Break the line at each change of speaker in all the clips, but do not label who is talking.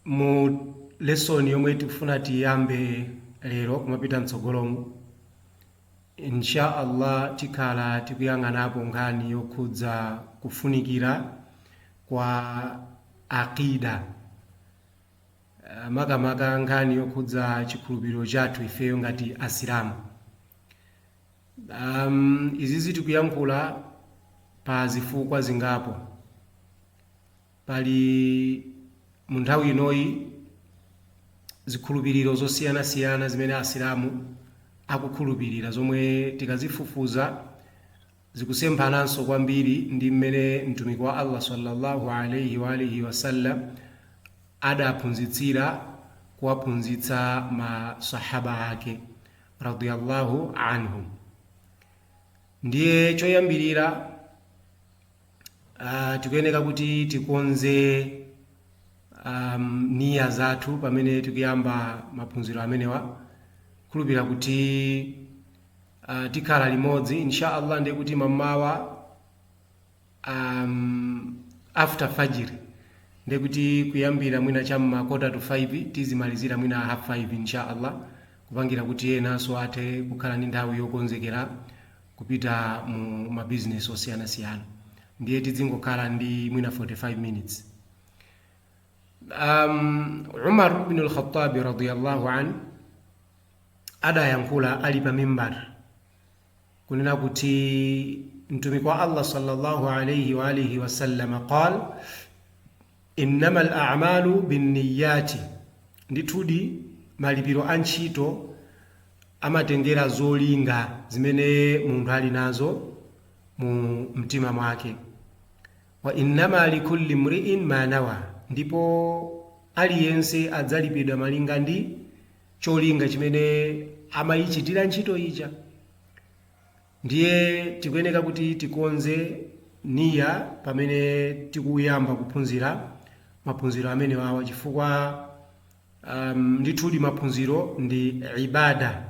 Mu lesson yomwe tikufuna tiyambe lero kumapita mtsogolomu, Insha Allah tikhala tikuyang'anapo nkhani yokhudza kufunikira kwa Aqeeda, makamaka nkhani yokhudza chikhulupiriro chathu ifeyo ngati Asilamu. Izizi tikuyankhula pa zifukwa zingapo. Pali mu nthawi inoyi zikhulupiriro zosiyanasiyana zimene Asilamu akukhulupirira zomwe tikazifufuza zikusemphananso kwambiri ndi mmene Mtumiki wa Allah sallallahu alayhi wa alihi wasallam adaphunzitsira kuwaphunzitsa ma Sahaba ake radiyallahu anhum. Ndiye choyambirira Uh, tikuyeneka kuti tikonze um, niya zathu pamene tikuyamba maphunziro amenewa khulupira kuti uh, tikhala limodzi insha allah ndiye kuti m'mamawa um, after fajr ndiye kuti kuyambira mwina cham'ma kota to 5 tizimalizira mwina half 5 insha allah kupangira kuti enanso athe kukhala ndi nthawi yokonzekera kupita mu ma business osiyanasiyana ndiye tidzingokhala ndi mwina 45 minutes um, umar bin al-khattabi radiyallahu an adayankhula ali pa mimbar kunena kuti mtumiki wa allah sallallahu alaihi wa alihi wasallama qal Innamal a'malu binniyyati, Ndithudi malipiro a ntchito amatengera zolinga zimene munthu ali nazo mu mtima mwake. Wa innama likulli mri'in ma nawa, Ndipo aliyense adzalipidwa malinga ndi cholinga chimene amaichitira ntchito ija. Ndiye tikuyeneka kuti tikonze Niyyah pamene tikuyamba kuphunzira maphunziro amenewawa chifukwa um, ndithudi maphunziro ndi ibada.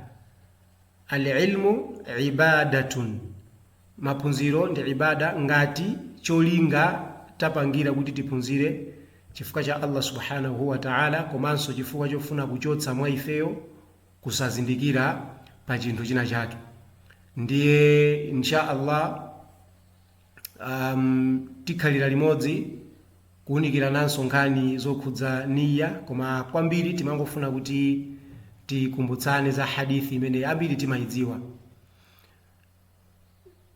Al-ilmu ibadatun, maphunziro ndi ibada ngati cholinga tapangira kuti tiphunzire chifukwa cha Allah subhanahu wa ta'ala komanso chifukwa chofuna kuchotsa mwa ifeyo kusazindikira pa chinthu china chake ndiye insha allah um, tikhalira limodzi kuwunikirananso nkhani zokhudza niya koma kwambiri timangofuna kuti tikumbutsane za hadithi imene ambiri timayidziwa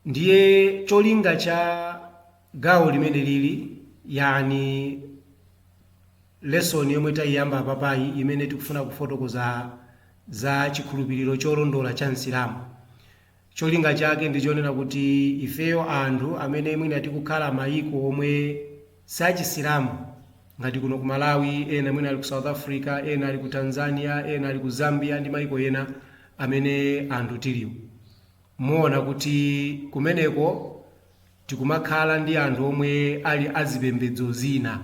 ndiye cholinga cha gawo limene lili yani lesson yomwe tayiyamba apapayi imene tikufuna kufotokoza za chikhulupiriro cholondola cha msilamu cholinga chake ndi chonena kuti ifeyo anthu amene mwina tikukhala mayiko omwe sachisilamu ngati kuno ku Malawi ena mwina ali ku South Africa ena ali ku Tanzania ena ali ku Zambia ndi maiko ena amene anthu tiliwo muona kuti kumeneko tikumakhala ndi anthu omwe ali azipembedzo zina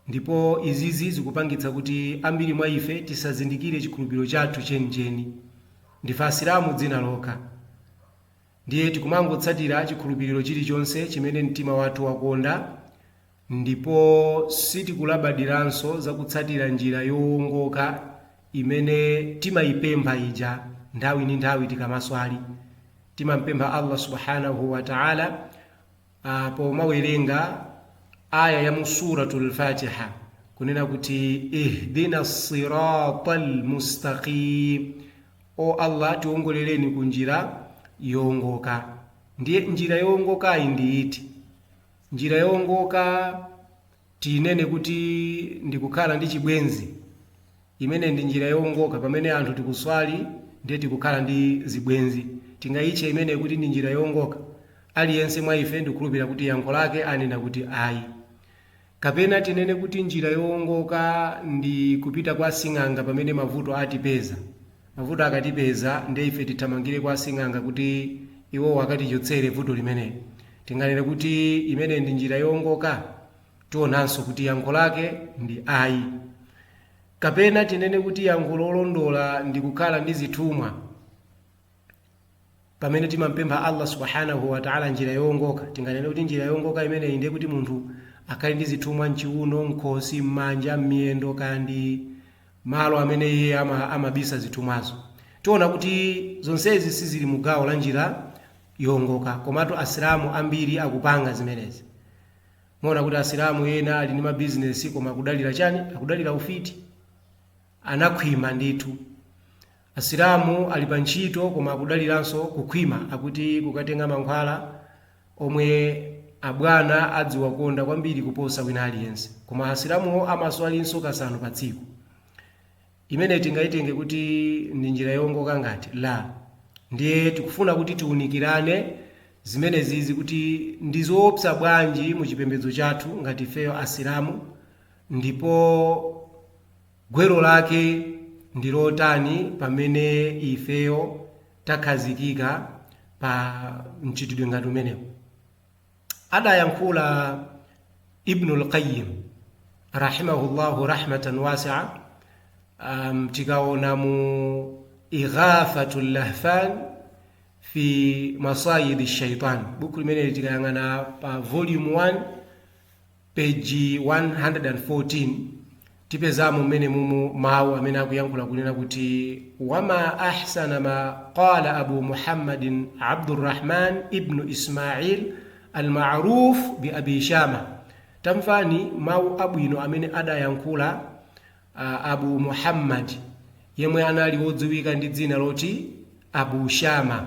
ndipo izizi zikupangitsa kuti ambiri mwa ife tisazindikire chikhulupiriro chathu chenicheni ndife asilamu dzina lokha Ndiye tikumangotsatira chikhulupiriro chilichonse chimene mtima wathu wakonda ndipo sitikulabadiranso za kutsatira njira yowongoka imene timaipempha ija nthawi ndi nthawi tikamaswali. Timampempha Allah Subhaanahu wa Ta'aala pomawerenga aya ya mu suratul fatiha kunena kuti ihdina sirata lmustaqim o allah tiwongolereni ku njira yowongoka ndiye njira yowongokayi ndi iti njira yowongoka tinene kuti ndi kukhala ndi chibwenzi, imeneyi ndi njira yoongoka pamene anthu tikuswali ndiye tikukhala ndi zibwenzi, tingaitche imeneyi kuti ndi njira yoongoka? Aliyense mwa ife ndikukhulupilira kuti yankho lake anena kuti ayi. Kapena tinene kuti njira yoongoka ndi kupita kwa sing'anga pamene mavuto atipeza? Mavuto akatipeza, ndiye ife tithamangire kwa asing'anga kuti iwowo akatichotsere vuto limeneli? Tinganene kuti imeneyi ndi njira yoongoka? Tionanso kuti yankho lake ndi ayi. Kapena tinene kuti yankho lolondola ndi kukhala ndi zithumwa? Pamene timampempha Allah Subhaanahu wa Ta'ala njira yoongoka, tinganene kuti njira yoongoka imeneyi ndiye kuti munthu akhale ndi zithumwa mchiuno, mkhosi, mmanja, mmiyendo kaya ndi malo amene iye amabisa zithumwazo. Tiona kuti zonsezi sizili mu gawo la njira yoongoka, komatu Asilamu ambiri akupanga zimenezi. Muona kuti Asilamu ena ali ndi mabizinesi koma akudalira chani? Akudalira ufiti. Anakhwima ndithu. Asilamu ali pa ntchito koma akudaliranso kukhwima akuti kukatenga mankhwala omwe abwana adziwakonda kwambiri kuposa wina aliyense. Koma Asilamuwo amaswalinso kasanu pa tsiku. Imeneyi tingaitenge kuti ndi njira yoongoka ngati? La. Ndiye tikufuna kuti tiunikirane zimenezizi kuti ndi zoopsa bwanji mu chipembedzo chathu ngati ifeyo Asilamu ndipo. Gwero lake ndi lotani pamene ifeyo takhazikika pa mchitidwe ngati umenewo? Adayankhula Ibnul Qayyim rahima-hullâhu rahmatan wasi'ah, tikaona mu Ighathatul Lahfan fi Masayidi Shaytan. Bukhu limeneli tikayang'ana pa Volume 1, Peji 114, tipezamo mmene mumo mau amene akuyankhula kunena kuti wama ahsana ma qala Abu Muhammadin Abdur Rahman ibnu Ismail al ma'ruf bi Abi Shama. Tamvani mau abwino amene adayankhula uh, Abu Muhammad yemwe anali wodziwika ndi dzina loti Abu Shama.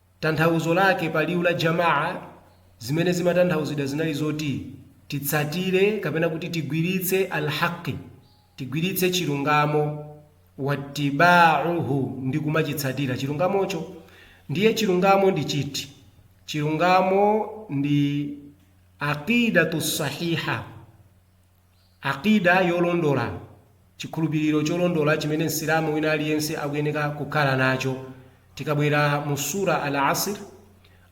Tanthauzo lake pa liwu la Jamaah zimene zimatanthauzidwa zinali zoti titsatire kapena kuti tigwiritse Al-Haqqi, tigwiritse chilungamo, wattibaa'uhu ndi kumachitsatira chilungamocho. Ndiye chilungamo ndi chiti? Chilungamo ndi Aqiidatun-Sahiihah. Aqidah yolondola, Chikhulupiliro cholondola chimene Msilamu wina aliyense akuyeneka kukhala nacho. Tikabwera mu Surah Al Asr,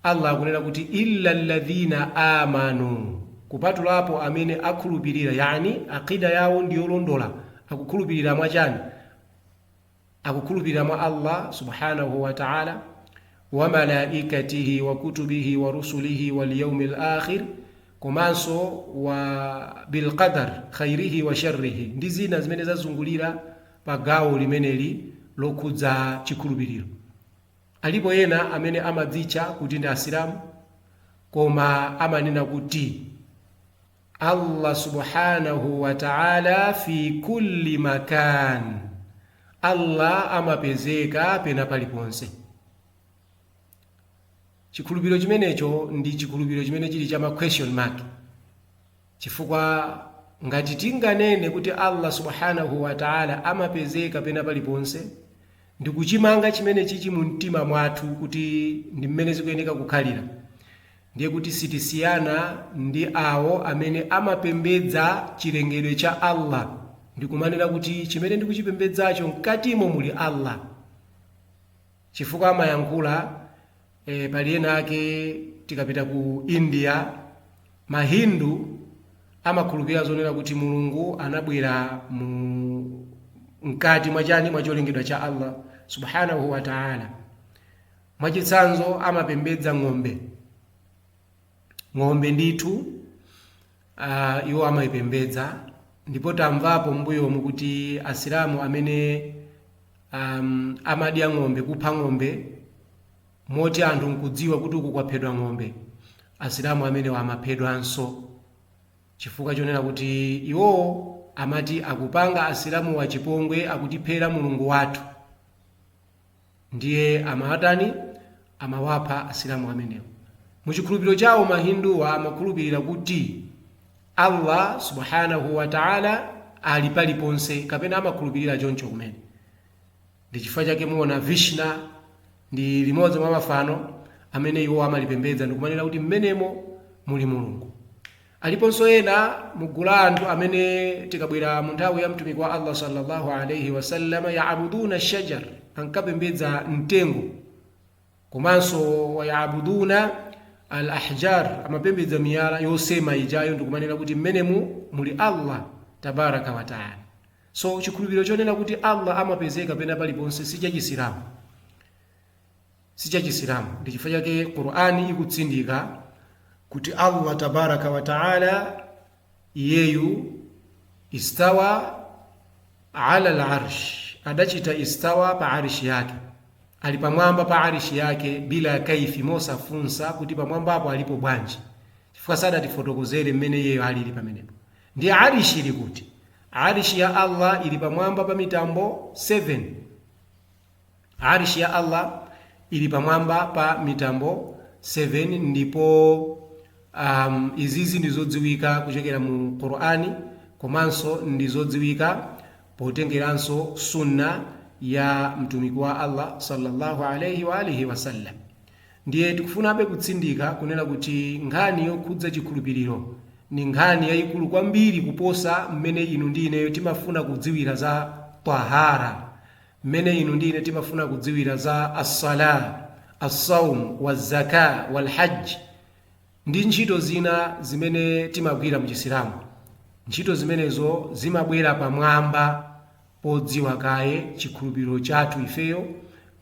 Allah akunena kuti, Illa alladhina amanu, Kupatulapo amene akhulupilira, yani aqidah yawo ndiyolondola, akukhulupilira mwa chani? Akukhulupirira mwa Allah Subhaanahu wa Ta'ala, wa malaa'ikatihi wa kutubihi wa rusulihi wal yawmil aakhir, komanso wa bil qadar khayrihi wa sharrihi ndi zina zimene zazungulira pa gawo limeneli lokhudza chikhulupiriro. Alipo ena amene amadzitcha kuti ndi Asilamu koma amanena kuti. Allah Subhaanahu wa Ta'ala fi kulli makaan, Allah amapezeka pena paliponse. Chikhulupiriro chimenecho ndi chikhulupiriro chimene chili cha ma question mark, chifukwa ngati tinganene kuti Allah Subhaanahu wa Ta'ala amapezeka pena paliponse ndi kuchimanga chimene chichi mu mtima mwathu kuti ndi mmene zikuyeneka kukhalira, ndiye kuti sitisiyana ndi awo amene amapembedza chilengedwe cha Allah ndikumanena kuti chimene ndikuchipembedzacho mkatimo muli Allah chifukwa amayankhula e, pali ena ake tikapita ku India mahindu amakhulupirira zonena kuti Mulungu anabwera mu mkati mwachani mwacholengedwa cha Allah subhanahu wa ta'ala Mwachitsanzo, amapembedza ng'ombe. Ng'ombe ndithu uh, iwo amayipembedza ndipo tamvapo m'mbuyomu kuti asilamu amene um, amadya ng'ombe, kupha ng'ombe moti anthu nkudziwa kuti uku kwaphedwa ng'ombe, asilamu amenewo amaphedwanso chifukwa chonena kuti iwo amati akupanga asilamu wachipongwe akutiphera mulungu wathu. Ndiye amawatani? Amawapha Asilamu amenewo. Mu chikhulupiriro chawo ma Hinduwa amakhulupirira kuti Allah Subhaanahuu Wataalaa ali paliponse kapena amakhulupirira choncho kumene. Ndi chifukwa chake muona Vishna ndi limodzi mwa mafano amene iwo amalipembedza ndikumanena kuti m'menemo muli Mulungu. Aliponso ena mu gulu la anthu amene tikabwera mu nthawi ya Mtumiki wa Allah sallallahu alaihi wasallam, yaabuduna shajar, ankapembedza mtengo, komanso wayaabuduna al ahjar, amapembedza miyala yosema ijayo ndikumanena kuti mmenemu muli Allah tabaraka wa taala. So chikhulupiriro chonena kuti Allah amapezeka pena paliponse si cha Chisilamu. sichachisilamu ndichifukwa chake Qur'an ikutsindika kuti Allah tabaraka wa ta'ala iyeyu istawa ala al-arsh adachita istawa pa arishi yake ali pamwamba pa arishi yake bila kaifi mosafunsa kuti pamwamba apo alipo bwanji chifukwa sadatifotokozere mmene iyeyo alili pamenepo ndiye arishi ili kuti arishi ya Allah ili pamwamba pa mitambo 7 Arsh ya Allah ili pamwamba pa mitambo 7 ndipo um, izizi ndizodziwika kuchokera mu Qur'ani komanso ndizodziwika potengeranso sunna ya mtumiki wa Allah sallallahu alaihi wa alihi wasallam ndiye tikufunabe kutsindika kunena kuti nkhani yokhudza chikhulupiriro ni nkhani yayikulu kwambiri kuposa mmene inu ndi ineyo timafuna kudziwira za tahara Mmene inu ndi ine timafuna kudziwira za As-Salah, As-Sawm, Waz-Zakah, Wal-Hajj ndi ntchito zina zimene timagwira mu Chisilamu. Ntchito zimenezo zimabwera pamwamba podziwa kaye chikhulupiriro chathu ifeyo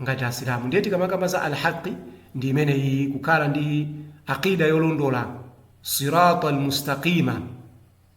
ngati Asilamu. Ndiye tikamakamba za Al-Haqqi ndi imeneyiyi, kukhala ndi Aqeeda yolondola, Siraat Al-Mustaqeema.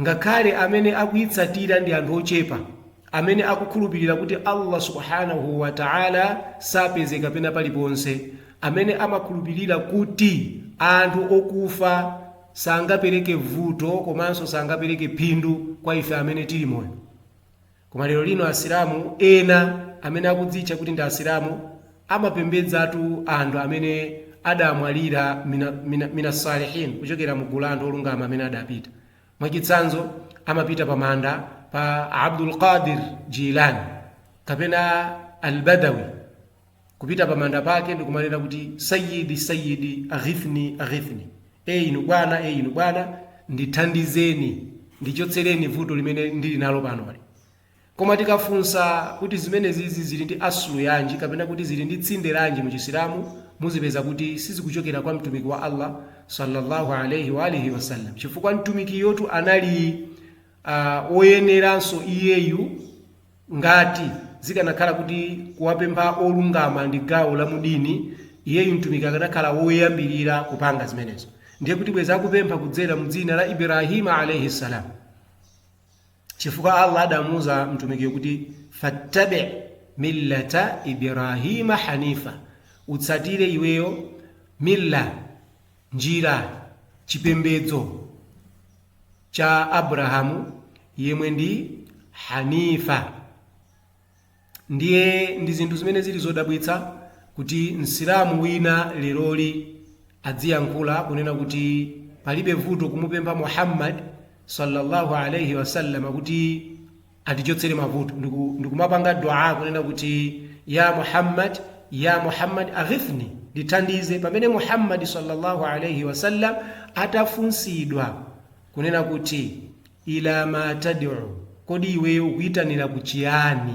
Ngakhale amene akuitsatira ndi anthu ochepa amene akukhulupirira kuti Allah Subhaanahu wa Ta'ala sapezeka pena paliponse, amene amakhulupirira kuti anthu okufa sangapereke vuto komanso sangapereke phindu kwa ife amene tili moyo. Koma lero lino Asilamu ena amene akudzitcha kuti ndi Asilamu amapembedzatu anthu amene adamwalira mina, mina, mina salihin kuchokera mu gulu la anthu olungama amene adapita. Mwachitsanzo, amapita pa manda pa Abdul Qadir Jilani kapena Al-Badawi kupita pa manda pake ndikumanena kuti sayyidi sayyidi aghithni aghithni e inu bwana e inu bwana ndithandizeni ndichotsereni vuto limene ndili nalo panoli koma tikafunsa kuti zimenezizi zili ndi aslu yanji kapena kuti zili ndi tsinde lanji mu chisilamu muzipeza kuti sizikuchokera kwa mtumiki wa allah sallallahu alaihi wa alihi wasallam chifukwa mtumikiyotu anali uh, woyeneranso iyeyu Ngati, zikanakhala kuti kuwapempha olungama ndi gawo la mu dini, iyeyu Mtumiki akanakhala woyambirira kupanga zimenezo. Ndiye kuti bwezi akupempha kudzera mu dzina la Ibrahima alaihi-salam. Chifukwa Allah adamuuza Mtumikiyo kuti, Fattabi millata Ibrahima hanifa, utsatire iweyo millah, njira, chipembedzo, cha Abrahamu yemwe ndi Hanifa. Ndiye ndi zinthu zimene zili zodabwitsa kuti Msilamu wina leroli adziyankhula kunena kuti palibe vuto kumupempha Muhammad sallallahu alaihi wasallam kuti atichotsere mavuto ndiku, ndikumapanga Duaa kunena kuti, Yaa Muhammad, Yaa Muhammad aghithni, ndithandize, pamene Muhammad salla Allah alaih wasallam atafunsidwa kunena kuti, Ila ma tad'u, kodi iweyo ukuitanira ku chiyani?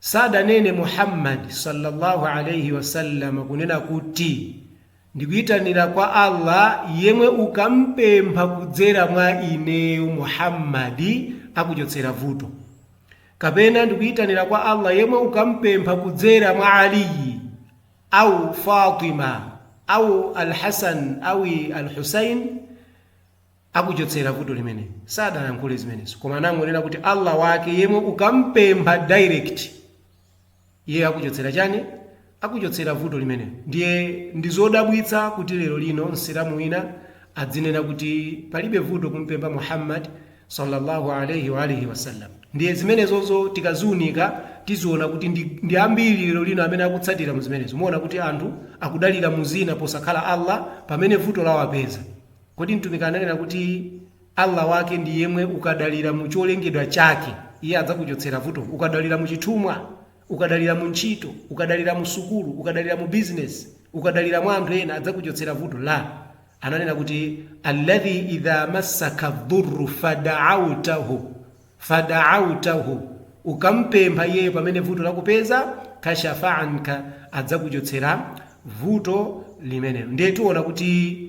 Sadanene Muhammad salla Allah alaih wasallam kunena kuti, Ndikuitanira kwa Allah yemwe ukampempha kudzera mwa ineyo Muhammad akuchotsera vuto, kapena Ndikuitanira kwa Allah yemwe ukampempha kudzera mwa Aliy aw Fatima aw Al-Hasan awi Al-Husain, akuchotsera vuto limeneli. Sadayankhule zimenezo koma anangonena kuti Allah wake yemwe ukampempha direct iye akuchotsera chani? Akuchotsera vuto limenelo. Ndiye ndizodabwitsa kuti lero lino Msilamu wina adzinena kuti palibe vuto kumpempha Muhammad sallallahu alaihi wa alihi wasallam. Ndiye zimenezozo tikaziunika tiziona kuti ndi, ndi ambiri lero lino amene akutsatira mu zimenezo. Muona kuti anthu akudalira mu zina posakhala Allah pamene vuto lawapeza. Kodi Mtumiki ananena kuti Allah wake ndi yemwe ukadalira mu cholengedwa chake, Iye adzakuchotsera vuto? Ukadalira mu chithumwa? Ukadalira mu ntchito? Ukadalira mu sukulu? Ukadalira mu business? Ukadalira mwa anthu ena, adzakuchotsera vuto? La. Ananena kuti, Alladhi idha massaka dhurru fada'autahu, fada'autahu, ukam'pempha Iyeyo pamene vuto lakupeza, kashafa anka, adzakuchotsera vuto limeneyo. Ndiye tiona kuti.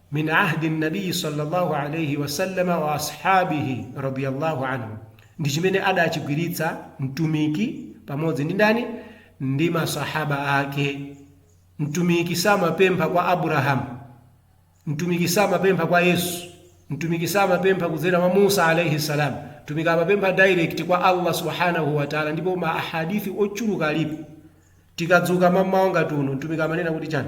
min ahdi nabiyi salllahu alaihi wasallama wa ashabihi radiyallahu anhum, ndi chimene adachigwiritsa Mtumiki pamodzi ndi ndani? Ndi masahaba ake. Mtumiki samapempha kwa Abrahamu, Mtumiki samapempha kwa Yesu, Mtumiki samapempha kudzera mwa Musa alaihi salam. Mtumiki amapempha direct kwa Allah subhanahu wa ta'ala, ndipo ma ahadithi ochuluka alipo. Tikadzuka mamawa ngati uno, Mtumiki amanena kuti chani?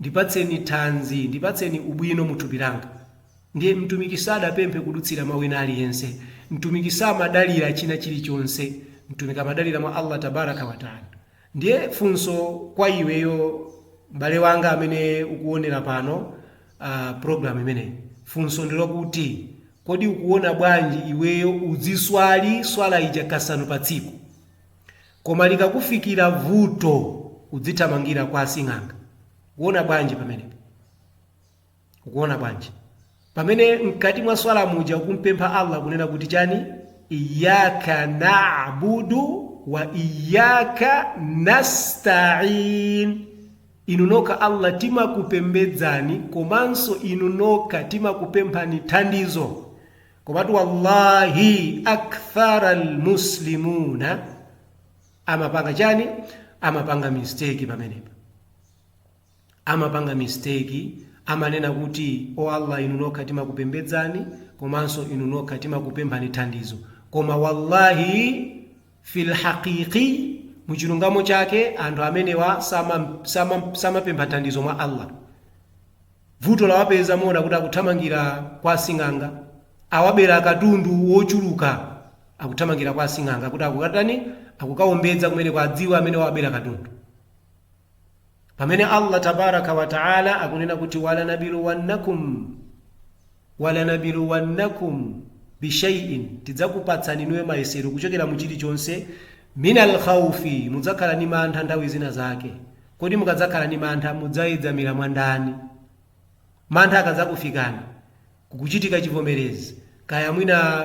Ndipatseni thanzi, ndipatseni ubwino mu thupi langa. Ndiye, mtumiki sadapemphe kudutsira mwa wina aliyense. Mtumiki samadalira china chilichonse. Mtumiki amadalira mwa Allah Tabaaraka wa Ta'ala. Ndiye funso kwa iweyo m'bale wanga amene ukuwonera pano, aah, program imeneyi. Funso ndi lokuti, kodi ukuwona bwanji iweyo udziswali Swala ija kasanu pa tsiku? Koma likakufikira vuto udzithamangira kwa asing'anga. Ukuona bwanji pamene? Ukuona bwanji? Pamene mkati mwa swala muja ukumpempha Allah kunena kuti chani? Iyyaka na'budu wa iyyaka nasta'in. Inu nokha Allah timakupembedzani komanso inu nokha timakupemphani thandizo. Komatu wallahi akthara almuslimuna amapanga chani? Amapanga mistake pamenepa, amapanga mistake, amanena kuti o Allah, inu nokha timakupembedzani komanso inu nokha timakupemphani thandizo, koma wallahi fil haqiqi muchilungamo chake anthu amenewa samapempha thandizo mwa Allah. Vuto lawapeza muona kuti akuthamangira kwa asing'anga awabera katundu wochuluka akuthamangira kwa asing'anga kuti akukatani akukaombedza kumeneko adziwe amene wawabera katundu pamene Allah tabaraka wa taala akunena kuti walanabiluwannakum Walanabiluwannakum bishai'in, tidzakupatsani inuyo mayesero kuchokera mu chilichonse, minal khawfi, mudzakhala ni mantha nthawi zina zake, kodi mukadzakhala ni mantha mudzayedzamira mwa ndani? Mantha akadzakufikani, kukuchitika chivomerezi, kaya mwina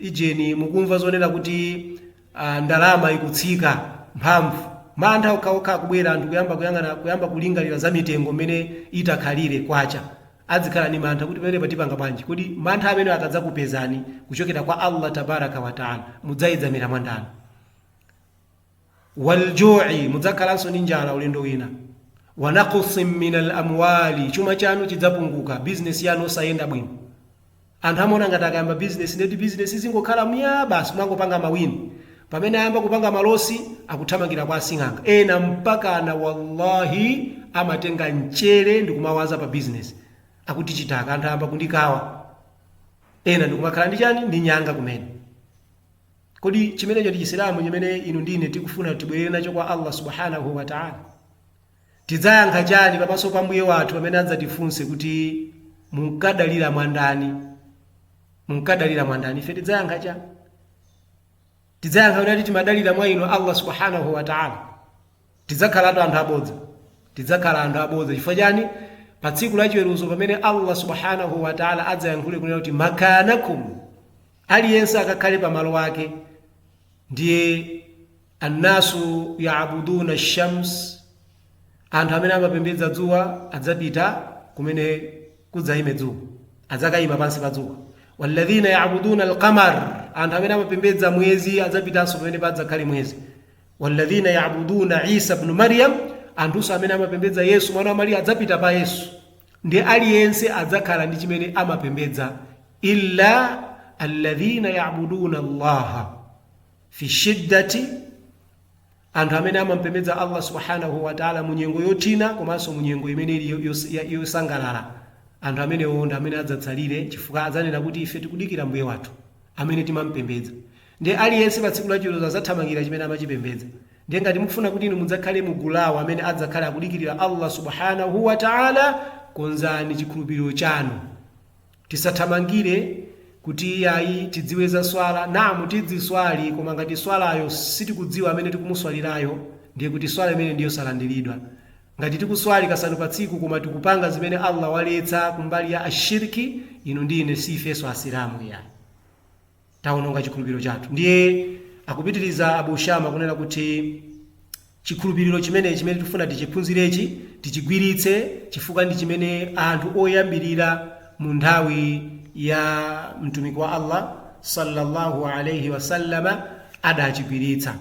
ijeni mukumva zonena kuti a ndalama ikutsika mphamvu. Mantha okhaokha kubwera anthu kuyamba kuyang'ana kuyamba kulingalira za mitengo mmene itakhalire kwacha. Adzikhala ndi mantha kuti pamenepa tipanga bwanji? Kodi mantha amenewa akadzakupezani kuchokera kwa Allah Tabaaraka wa Ta'ala mudzayedzamira mwa ndani? Wal ju'i mudzakhalanso ndi njala ulendo wina. Wa naqsim minal amwaali chuma chanu chidzapunguka, business yanu osayenda bwino. Anthu amaona ngati akayamba business ndiye kuti business zingokhala myaa basi kumangopanga ma win. Pamene ayamba kupanga malosi akuthamangira kwa asing'anga. Ena mpakana wallahi amatenga mchere ndikumawaza pa business. Akuti chitaka anthu ayamba kundikawa. Ena ndikumakhala ndi chani? Ndi nyanga kumene. Kodi chimenecho ndi Chisilamu chimene inu ndi ine tikufuna tibwelere nacho kwa Allah Subhaanahuu Wataalaa? Tidzayankha chani pamaso pa Mbuye wathu pamene adzatifunse kuti munkadalira mwa ndani? Munkadalira mwa ndani? Ife tidzayankha chani? Tidzayankha kuti timadalira mwa inu Allah subhanahu wa ta'ala. Tidzakhalatu anthu abodza. Tidzakhala anthu abodza chifukwa chani? Pa tsiku la chiweruzo pamene Allah subhanahu wa ta'ala adzayankhule kunena kuti makanakum aliyense akakhale pa malo ake ndiye An-nasu ya'buduna ash-shams, Anthu amene amapembedza dzuwa adzapita kumene kudzaime dzuwa, adzakaima pansi pa dzuwa. Walladhina ya'buduna al-qamar, Anthu amene amapembedza mwezi adzapitanso pamene padzakhale mwezi. Walladhina ya'buduna Isa ibn Maryam, Anthunso amene amapembedza Yesu mwana wa Mariya adzapita pa Yesu. Ndiye aliyense adzakhala ndi chimene amapembedza illa alladhina ya'buduna Allaha fi shiddati, anthu amene amampembedza Allah Subhaanahu wa Ta'aala mu nyengo yothina komanso mu nyengo imene ili yosangalala, anthu amenewo ndi amene adzatsalire chifukwa adzanena kuti ife tikudikira Mbuye wathu amene timampembedza. Ndiye aliyense pa tsiku la chiweruzo adzathamangira chimene amachipembedza. Ndiye ngati mukufuna kuti inu mudzakhale mu gulu la awo amene adzakhale akudikirira Allah Subhaanahu wa Ta'aala, konzani chikhulupiriro chanu. Tisathamangire kuti iyayi tidziwe za swala. Naam tidziswali koma ngati swalayo sitikudziwa amene tikumuswalirayo ndiye kuti swala imeneyo ndi yosalandiridwa. Ngati tikuswali kasanu pa tsiku koma tikupanga zimene Allah waletsa kumbali ya ashirk, inu ndi ine si ifenso Asilamu iyayi. Tawononga chikhulupiriro chathu. Ndiye akupitiriza Abu Shama kunena kuti, Chikhulupiriro chimenechi chimene tikufuna tichiphunzirechi, tichigwiritse chifukwa ndi chimene anthu oyambirira mu nthawi ya Mtumiki wa Allah, salallahu alaihi wa sallama, adachigwiritsa.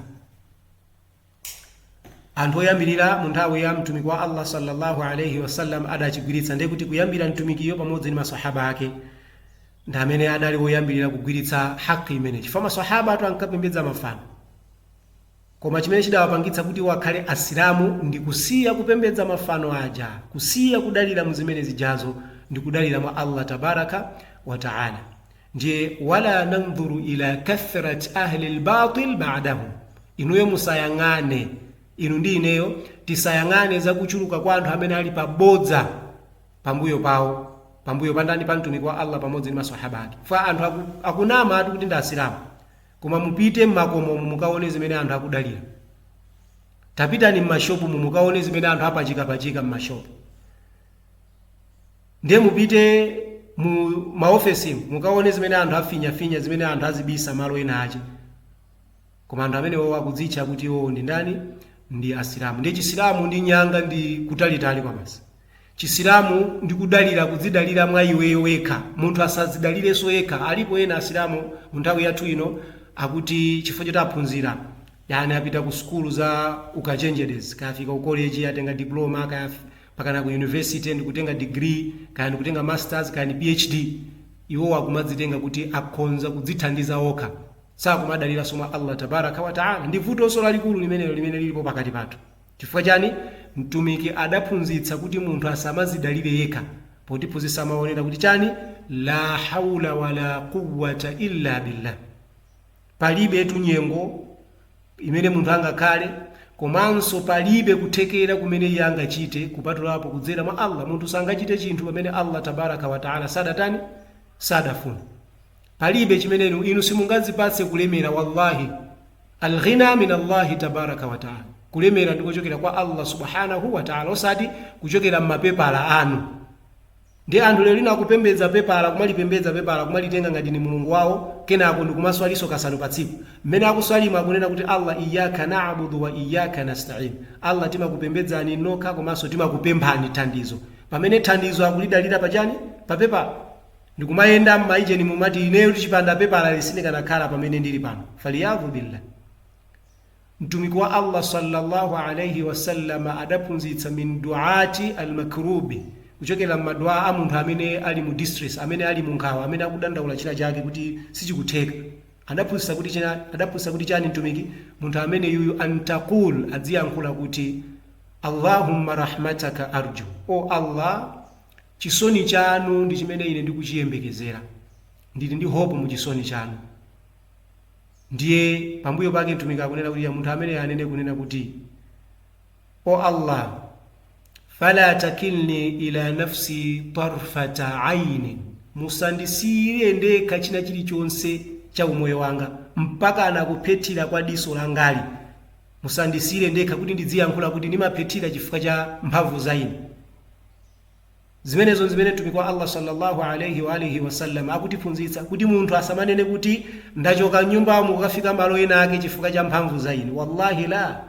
anthu oyambirira mu nthawi ya mtumiki wa allah sallallahu alaihi wasallam adachigwiritsa ndiye kuti kuyambira mtumikiyo pamodzi ndi masahaba ake ndi amene adali woyambirira kugwiritsa haki imene chifukwa masahabatu ankapembedza mafano koma chimene chidawapangitsa kuti akhale asilamu ndi kusiya kupembedza mafano aja kusiya kudalira mu zimene zijazo ndi kudalira mwa allah tabaraka wa taala Ndiye wala nandhuru ila kathrat ahli lbatil badahum, inuyo musayang'ane, inu ndi ineyo tisayang'ane za kuchuluka kwa anthu amene ali pa bodza pambuyo pawo, pambuyo pa ndani? Pa Mtumiki wa Allah pamodzi ndi maswahaba ake. Chifukwa anthu akunama ati kuti ndi Asilamu, koma mupite m'makomomu mukaone zimene anthu akudalira. Tapitani m'mashopomu mukaone zimene anthu apachikapachika m'mashopo. Ndiye mupite mu maofesimu mukaone zimene anthu afinyafinya, zimene anthu azibisa malo ena ache. Koma anthu amenewowo akudzitcha kuti iwowo ndi ndani? Ndi Asilamu. Ndiye Chisilamu ndi nyanga ndi kutalitali kwabasi. Chisilamu ndi kudalira, kudzidalira mwa iweyo wekha. Munthu asamadzidalirenso yekha. Alipo ena Asilamu mu nthawi yathu ino akuti chifukwa choti aphunzira, yani apita ku sukulu za ukachenjedezi, kaya afika ku koleji atenga diploma, kaya mpakana ku university ndi kutenga degree kaya ndi kutenga masters kaya ndi phd iwowo akumadzitenga kuti akhonza kudzithandiza okha sakumadaliranso mwa allah tabaraka wataala ndi vutonso lalikulu limenelo limene lilipo pakati pathu chifukwa chani mtumiki adaphunzitsa kuti munthu asamadzidalire yekha potiphunzitsa mawu onena kuti chani la haula wala quwata illa billah palibe nyengo imene munthu angakhale, komanso palibe kuthekera kumene iye angachite kupatulapo kudzera mwa Allah. Munthu sangachite chinthu pamene Allah Tabaraka wa Ta'ala sadatani? Sadafuna. Palibe chimene inu, inu simungadzipatse kulemera wallahi. Al-ghina min Allahi Tabaraka wa Ta'ala. Kulemera ndikochokera kwa Allah Subhanahu wa Ta'ala osati kuchokera mmapepala anu. Ndiye anthu lero lino akupembedza pepala, kumalipembedza pepala, kumalitenga ngati ndi Mulungu wawo, kenako ndikumaswalinso kasanu pa tsiku. Mmene akuswalimo akunena kuti Allah Iyyaka na'abudu wa Iyyaka nasta'in, Allah timakupembedzani nokha komanso timakupemphani thandizo. Pamene thandizo akulidalira pa chani? Pa pepala. Ndikumayenda mmaijeni kumati ineyotu chipanda pepalali sindikanakhala pamene ndili pano. Faliyadhu billah. Mtumiki wa Allah salla Allah alaih wasallam adaphunzitsa min duaati al makruubi, kuchokera mma dua a munthu amene ali mu distress, amene ali mu nkhawa, amene akudandaula china chake kuti sichikutheka. Adaphunzitsa kuti chani Mtumiki? Munthu ameneyuyu an taqul, adziyankhula kuti Allahumma rahmataka arju, O Allah chisoni chanu ndi chimene ine ndikuchiyembekezera, ndili ndi hope mu chisoni chanu. Ndiye pambuyo pake Mtumiki akunena kuti ya munthu amene anene kunena kuti O Allah fala takilni ila nafsi tarfata aini, musandisiyire ndekha china chilichonse cha umoyo wanga mpaka na kuphethira kwa diso langali, musandisiyire ndekha kuti ndidziyankhula kuti ndimaphethira chifukwa cha mphamvu za ine. Zimenezo n'zimene Mtumiki wa Allaah salla Allah alayhi wa alihi wasallam akutiphunzitsa, kuti munthu asamanene kuti, Ndachoka m'nyumbamu kukafika malo ena ake chifukwa cha mphamvu za ine. Wallahi la!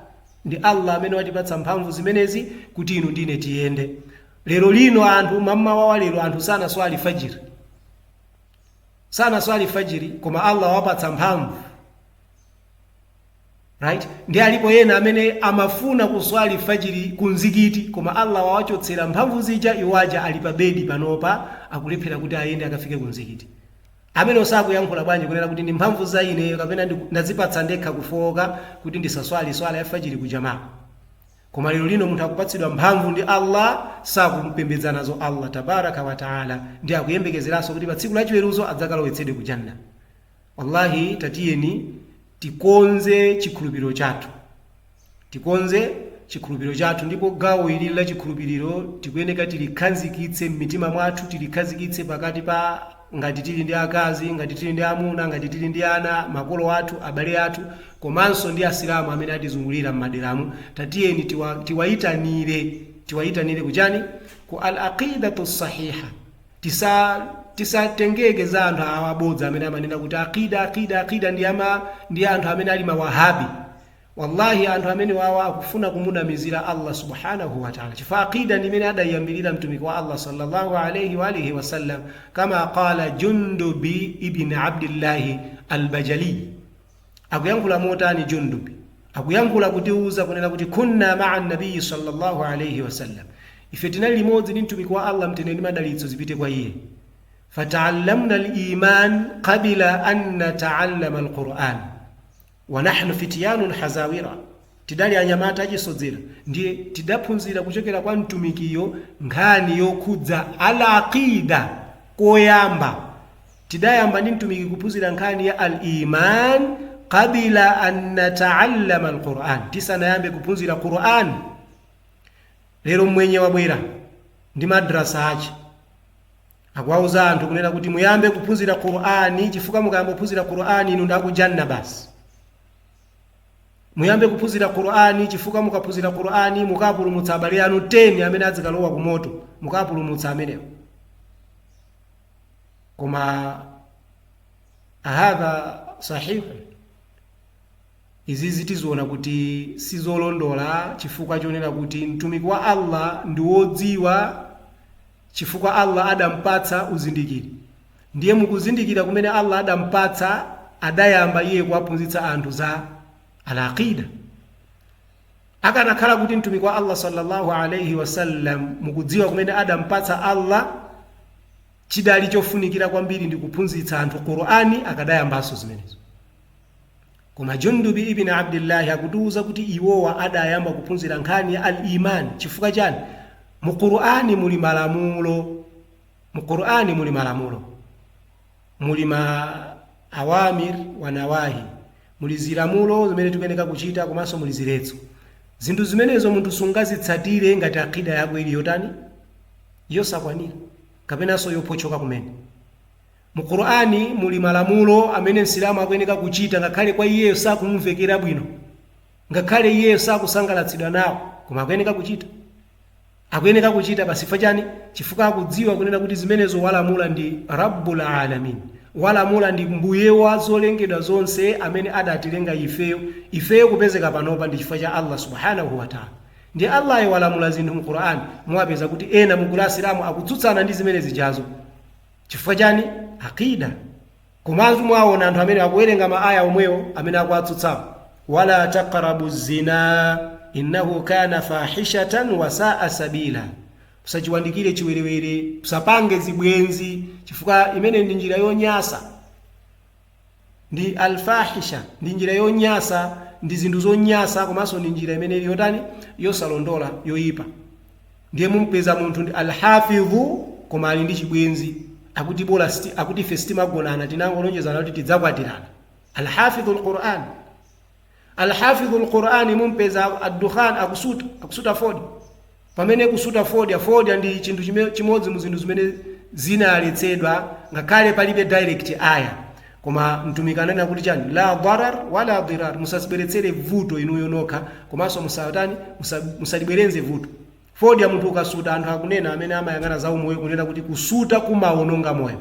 Ndi Allaah amene watipatsa mphamvu zimenezi kuti inu ndi ine tiyende. Lero lino anthu, mam'mawa wa lero anthu sanaswali Fajr, sanaswali Fajr koma Allaah wawapatsa mphamvu. Right? Ndi alipo ena amene amafuna kuswali fajiri ku mzikiti koma Allah wawachotsera mphamvu zija iwo aja ali pa bedi panopa akulephera kuti ayende akafike ku mzikiti. Ameneyo sakuyankhula bwanji kunena kuti ndi mphamvu za ineyo kapena ndiku- ndazipatsa ndekha kufowoka kuti ndisaswali swala ya fajiri ku jamaa. Koma lero lino munthu akupatsidwa mphamvu ndi Allah sakumpembedza nazo Allah tabaraka wa taala ndi akuyembekezeranso kuti pa tsiku la chiweruzo adzakalowetsedwe ku janna. Wallahi tatiyeni tikonze chikhulupiriro chathu tikonze chikhulupiriro chathu ndipo gawo ili la chikhulupiriro tikuyeneka tilikhazikitse m'mitima mwathu tilikhazikitse pakati pa ngati tili ndi akazi ngati tili ndi amuna ngati tili ndi ana makolo athu abale athu komanso ndi asilamu amene atizungulira m'maderamu tatiyeni tiwa, tiwayitanire tiwayitanire kuchani ku al aqidatu sahiha Tisa tisatengeke za anthu awa abodza amene amanena kuti aqida aqida aqida ndi ama ndi anthu amene ali mawahabi wallahi anthu amenewawa akufuna kumunamizira Allah subhanahu wa ta'ala chifukwa aqida ndi imene adayambirira mtumiki wa Allah sallallahu alayhi wa alihi wasallam kama qala jundubi ibn abdillahi al-Bajali Akuyankhula motani Jundub? Akuyankhula kutiuza kunena kuti Kunna ma'a Nabiyyi sallallahu alayhi wa sallam, Ife tinali limodzi ndi Mtumiki wa Allah Mtendere ndi Madalitso zipite kwa iye, fata'allamna al-iman qabla an nata'allama al-Qur'an, wa nahnu fityanun hazawira. Tidali anyamata achisodzera ndiye tidaphunzira kuchokera kwa Mtumikiyo nkhani yokhudza Al-Aqeeda koyamba. Tidayamba ndi Mtumiki kuphunzira nkhani ya Al-Imaan qabla an nata'allama Al-Qur'an, tisanayambe kuphunzira Qur'an. Lero mmwenye wabwera ndi madrasa ache. Akuwauza anthu kunena kuti muyambe kuphunzira Qur'an chifukwa mukayamba kuphunzira Qur'an inu ndi aku Jannah basi. Muyambe kuphunzira Qur'an chifukwa mukaphunzira Qur'an mukapulumutsa abale anu 10 amene adzikalowa ku moto, mukapulumutsa amenewo. Koma hadha sahihun. Izizi tiziona kuti sizolondola chifukwa chonena kuti mtumiki wa Allah ndi wodziwa chifukwa Allah adampatsa uzindikiri, ndiye mukuzindikira kumene Allah adampatsa adayamba iye kuwaphunzitsa anthu za Al-Aqidah. Akanakhala kuti Mtumiki wa Allah sallallahu alaihi wasallam mukudziwa kumene adampatsa Allah chidali chofunikira kwambiri ndi kuphunzitsa anthu Qur'ani akadayambanso zimenezo. Koma Jundubi ibn Abdillah akutiuza kuti iwowa adayamba kuphunzira nkhani ya Al Iman chifukwa chani? Mu Qur'an muli mala- mu Qur'an muli malamulo, muli ma awamir wa nawahi, muli zilamulo zimene tikuyeneka kuchita komanso muli ziletso. Zinthu zimenezo munthu sungazitsatire ngati aqida yako ili yotani? Yosakwanira kapenanso yophotchoka kumene. Mu Qur'an muli malamulo amene Msilamu akuyeneka kuchita ngakhale kwa iyeyo sakumvekera bwino, ngakhale iyeyo sakusangalatsidwa nawo koma akuyeneka kuchita. Akuyeneka kuchita basi chifukwa chani? Chifukwa akudziwa kunena kuti zimenezo walamula ndi Rabbul Alamin, walamula ndi Mbuye wa zolengedwa zonse amene adatilenga ifeyo, ifeyo kupezeka panopa ndi chifukwa cha Allah Subhanahu wa Ta'ala. Ndiye Allayo walamula zinthu mu Qur'an, muwapeza kuti ena mu gulu la Asilamu akutsutsana ndi zimene zijazo. chifukwa chani aqida komanso mwaona anthu amene akuwerenga ma aya omwewo amene akuwatsutsawo wala taqrabu zina innahu kana fahishatan wa saa sabila usachiwandikire chiwerewere usapange zibwenzi chifukwa imene ndi njira yonyasa ndi Al-Fahisha ndi njira yonyasa, ndi zinthu zonyasa komanso ndi njira imene ili yotani? Yosalondola, yoyipa. Ndiye mumpeza munthu ndi Al-Hafidhu koma ali ndi chibwenzi. Akuti bola siti, akuti ife sitimagonana tinangolonjezana kuti tidzakwatirana. Al-Hafidhu Al-Qur'an. Al-Hafidhu l-Qur'ani mumpeza addukhan akusuta akusuta fodya pamene kusuta fodya fodya ndi chinthu chime- chimodzi mu zinthu zimene zinaletsedwa ngakhale palibe direct aya koma mtumiki ananena kuti chani la darar wala dirar musazibweretsere vuto inuyo nokha komanso musatani musa- musalibwerenze vuto fodya munthu ukasuta anthu akunena amene amayang'ana za umoyo kunena kuti kusuta kumawononga moyo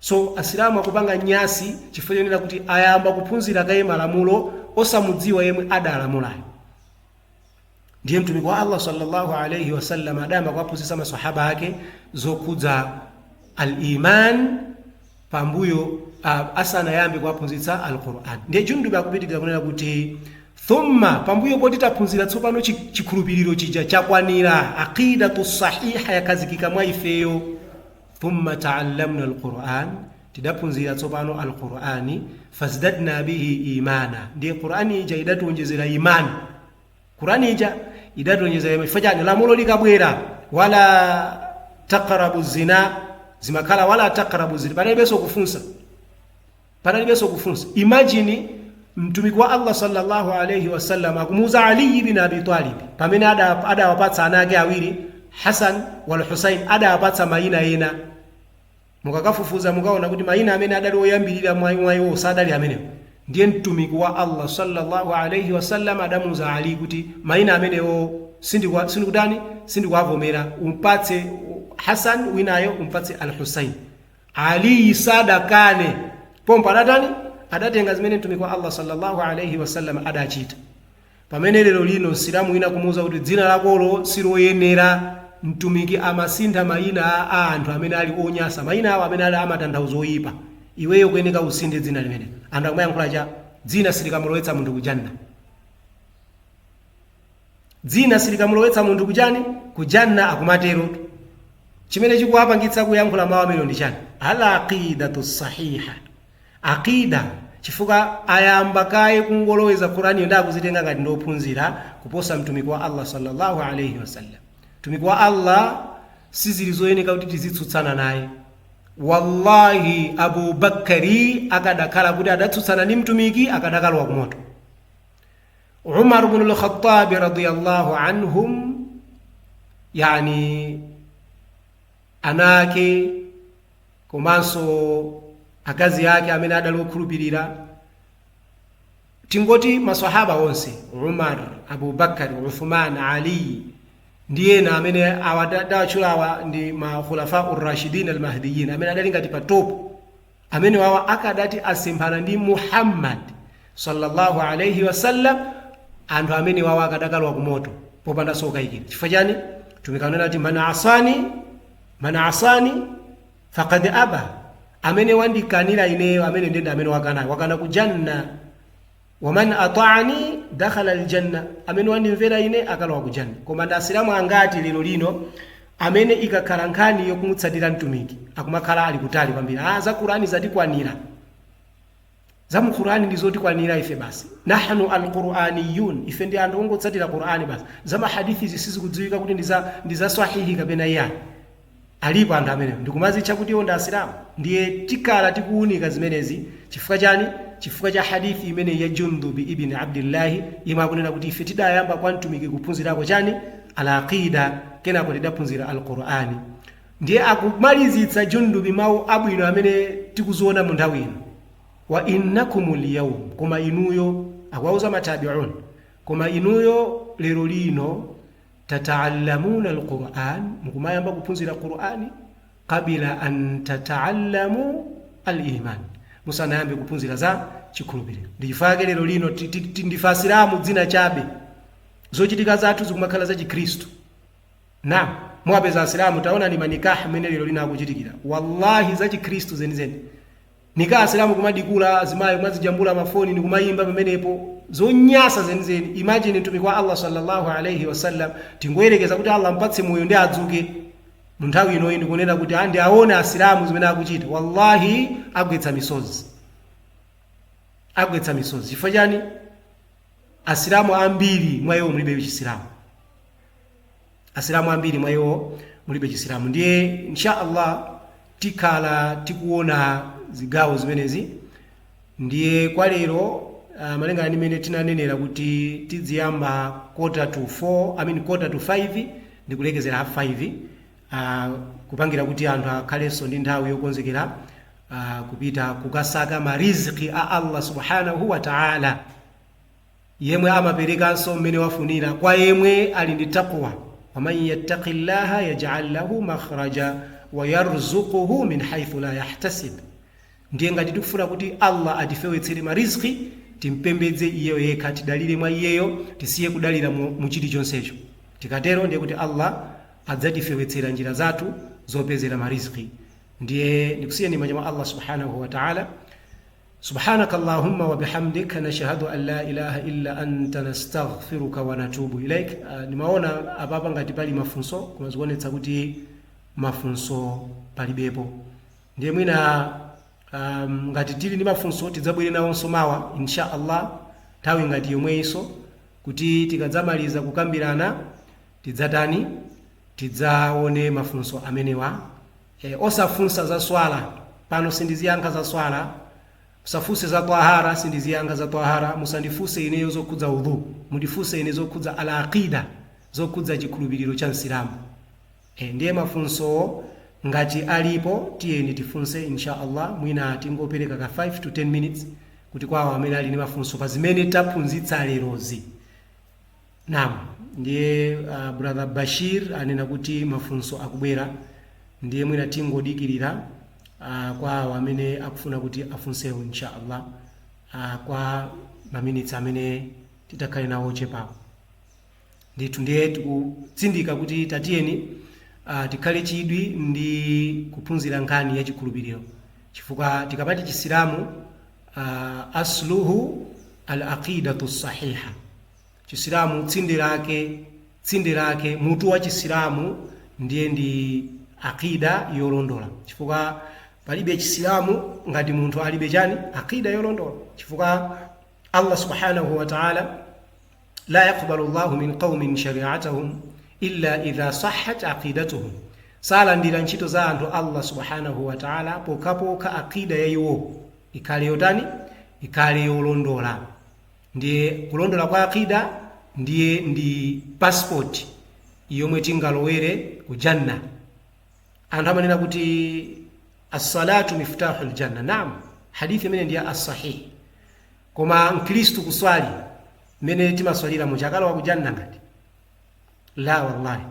So asilamu akupanga nyasi chifukwa chonena kuti ayamba kuphunzira kaye malamulo osamudziwa yemwe adalamulayo ndiye mtumiki wa allah sallallahu alaihi wasallam adayamba kuwaphunzitsa masahaba ake zokhudza al-iman pambuyo uh, asanayambe kuwaphunzitsa al-quran ndiye jundubi akupitiriza kunena kuti thumma pambuyo poti taphunzira tsopano chi- chikhulupiriro chija chakwanira aqidatu sahiha yakhazikika mwa ifeyo thumma taallamna alquran tidaphunzira tsopano alqurani fazdadna bihi imana ndiye qurani ija idatiwonjezera imani qurani ija idatiwonjezera imani chifukwa chiyani lamulo likabwera wala taqrabu zina zimakhala wala taqrabu zina panalibenso kufunsa Panalibenso kufunsa. Imagine Mtumiki wa Allah salla Allah alaih wasallam akumuuza Ali ibn Abi Talib pamene adawapatsa ana ake awiri Hasan wal Husain adawapatsa maina ena. Mukakafufuza mukaona kuti maina amene adali oyambirira mwa iwo sadali amenewo. Ndiye Mtumiki wa Allah salla Allah alaih wasallam adamuuza Ali kuti maina amenewo sindikutani, sindikuwavomera, umpatse Hasan winayo umpatse Al Husain. Aliyi sadakane, pompho adatani? Adatenga zimene Mtumiki wa Allah sallallâhu alaihi wa sallam adachita. Pamene lero lino Msilamu wina kumuuza kuti dzina lakolo siloyenera, Mtumiki amasintha maina a anthu amene ali onyasa, maina awo amene ali a matanthauzo oyipa, iweyo ukuyeneka usinthe dzina limenelo. Anthu akumayankhula cha, dzina silikamulowetsa munthu ku Jannah. Dzina silikamulowetsa munthu ku chani? Ku Jannah akumatero. Chimene chikuwapangitsa kuyankhula mau amenewo ndi chani? Al-Aqeedatu Ssahihah, Aqeedah, chifukwa ayamba kaye kungoloweza Quraniyo nkuzitenga ngati ndi ophunzira kuposa Mtumiki wa Allah salla Allah alaih wasallam. Mtumiki wa Allah sizili zoyeneka kuti tizitsutsana naye. Wallahi Abu Bakkari akadakhala kuti adatsutsana ndi Mtumiki akadakalowa ku moto. Umar ibn al-Khattab radiyallahu anhum, yani ana ake komanso akazi ake amene adali okhulupirira tingoti maswahaba onse umar abubakar uthman ali ndi ena amene ndawatchulawa ndi makhulafa urashidin almahdiyin amene adali ngati pa top amenewawa akadati asemphana ndi Muhammad sallallahu alaihi wasallam anthu amenewawa akadakalowa kumoto popandanso kukayikira chifukwa chani mtumiki ananena kuti man asani man asani faqad aba amene wandikanira ineyo amene ndende amene wakanayo wakana kujanna waman ataani dakhalal jannah amene wandimvera ine akalowa ku janna koma ndi asilamu angati lero lino amene ikakhala nkhani yokumutsatira mtumiki akumakhala ali kutali kwambiri ah za qur'ani zatikwanira za mu qur'ani ndi zotikwanira ife basi nahnu alquraniyun ife ndi anthu ongotsatira qur'ani basi za mahadithi zisizikudziwika kuti ndi za sahihi kapena iyani Alipo anthu amenewo ndikumadzitcha kuti iwo ndi Asilamu. Ndiye tikhala tikuunika zimenezi chifukwa chani? Chifukwa cha hadith imeneyi ya Jundub Ibn Abdullah yemwe akunena kuti ife tidayamba kwa Mtumiki kuphunzirako chani? Al-Aqidah kenako tidaphunzira Al-Qur'an. Ndiye akumalizitsa Jundub mau abwino amene tikuziona munthawi ino. Wa innakumul yawm koma inuyo, akuwauza ma Tabi'un koma inuyo lero lino. Tata'allamuna al-Qur'an, mukumayamba kuphunzira Qur'an, qabila an tata'allamu al-iman, musanayambe kuphunzira za chikhulupiriro. Ndi chifukwa chake lero lino ndife Asilamu dzina chabe, zochitika zathu zikumakhala za Chikhristu. Naam, muwapeza Asilamu, taonani ma nikah mmene lero lino akuchitikira, wallahi za Chikhristu zenizeni. Nika asilamu kumadikula azimayi kumazijambula mafoni ndikumayimba pamenepo zonyasa zenizeni imagine mtumiki wa Allah salla Allah alaih wasallam tingoyelekeza kuti Allah ampatse moyo nde adzuke munthawi inoyi ndikunena kuti a ndiawone asilamu zimene akuchita wallahi agwetsa misozi agwetsa misozi chifukwa chani asilamu ambiri mwa iwo mulibe chisilamu asilamu ambiri mwa iwo mulibe chisilamu ndiye insha allah tikhala tikuona zigawo zimenezi ndiye kwa lero uh, malingana ndi mmene tinanenera kuti tiziyamba quarter to 4 i mean quarter to 5 ndi kulekezera half 5 uh, kupangira kuti anthu akhalenso ndi nthawi yokonzekera uh, kupita kukasaka mariziki a allah subhanahu wa taala Yemwe amaperekanso mmene wafunira kwa yemwe ali ndi taqwa, waman yattaqillaha yaj'al lahu makhraja wa yarzuqhu min haithu la yahtasib, ndiye ngati tikufuna kuti Allah atifewetsere ma rizqi, timpembedze Iyeyo yekha, tidalire mwa Iyeyo, tisiye kudalira mu chilichonsecho. Tikatero ndiye kuti Allah adzatifewetsera njira zathu zopezera ma rizqi. Ndiye ndikusiyeni m'manja mwa Allah Subhaanahu wa Ta'aala. Subhanaka Allahumma wa bihamdik nashhadu an la ilaha illa anta nastaghfiruka wa natubu ilaik. Uh, ndimaona apapa ngati pali mafunso koma zikuonetsa kuti mafunso palibepo ndiye mwina um, ngati tili ndi mafunso tidzabwere nawonso mawa insha allah nthawi ngati yomweyinso kuti tikadzamaliza kukambirana tidzatani tidzaone mafunso amenewa eh osafunsa za swala pano sindiziyankha za swala musafunse za tahara sindiziyankha za tahara musandifunse ineyo zokhudza udhu mundifunse ine zokhudza al aqida zokhudza chikhulupiriro cha msilamu eh ndiye mafunsowo ngati alipo tiyeni tifunse insha allah mwina tingopereka ka 5 to 10 minutes kuti kwawo amene ali ndi mafunso pa zimene taphunzitsa lerozi Naam, ndiye uh, brother Bashir anena kuti mafunso akubwera ndiye mwina tingodikirira uh, kwa awo amene akufuna kuti afunsewo inshaallah uh, kwa maminitsi amene titakhale nawo ochepawo ndithu ndiye tikutsindika kuti tatiyeni uh, tikhale chidwi ndi kuphunzira nkhani ya chikhulupiriro chifukwa tikamati chisilamu uh, asluhu al aqidatu sahiha Chisilamu tsinde lake tsinde lake mutu wa Chisilamu ndiye ndi akida yolondola chifukwa palibe Chisilamu ngati munthu alibe chani akida yolondola chifukwa Allah subhanahu wa ta'ala la yaqbalu Allahu min qaumin shari'atahum illa idha sahhat aqidatuhum salandira ntchito za anthu Allah subhanahu wa ta'ala pokhapokha akida ya iwo ikhale yotani ikhale yolondola Ndiye kulondola kwa Aqidah ndiye ndi passport yomwe tingalowere ku Jannah. Anthu amanena kuti as-salatu miftahul janna. Naam, hadithi imeneyi ndi ya as-sahih. Koma Mkristu kuswali mmene timaswaliramu akakalowa ku Jannah ngati? La wallahi.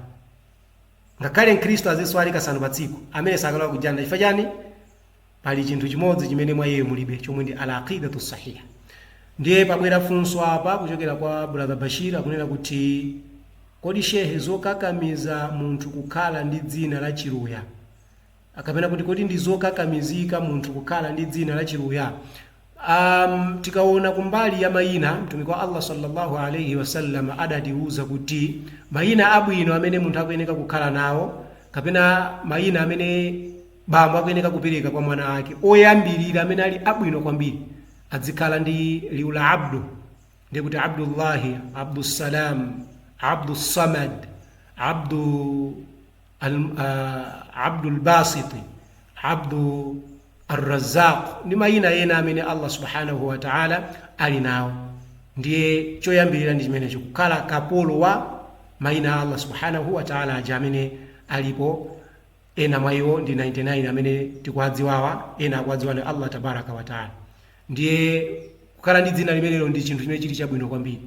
Ngakhale Mkristu aziswali kasanu pa tsiku, amene sakalowa ku Jannah. Chifukwa chani? Pali chinthu chimodzi chimene mwa iyeyo mulibe chomwe ndi Al Aqidatu Al Sahiha. Ndiye pabwera funso apa kuchokera kwa Brother Bashir akunena kuti kodi Shehe zokakamiza munthu kukhala ndi dzina la Chiluya kapena kuti kodi ndi zokakamizika munthu kukhala ndi dzina la Chiluya? Um, tikaona kumbali ya mayina mtumiki wa Allah sallallahu alaihi wasallam adatiuza kuti mayina abwino amene munthu akuyeneka kukhala nawo kapena mayina amene bambo akuyeneka kupereka kwa mwana wake oyambirira amene ali abwino kwambiri adzikhala ndi liwu la abdu ndiye kuti abdullahi abdussalam abdussamad abdu Al- ah, abdul basiti abdu arrazaq ndi mayina ena amene allah subhanahu wa taala ali nawo ndiye choyambirira ndi chimenecho kukhala kapolo wa mayina a allah subhanahu wa taala aja amene alipo ena mwa iwo ndi 99 amene tikuwadziwawa ena akuwadziwa ndi allah tabaraka wa taala ndiye kukhala ndi dzina limenelo ndi chinthu chimene chili chabwino kwambiri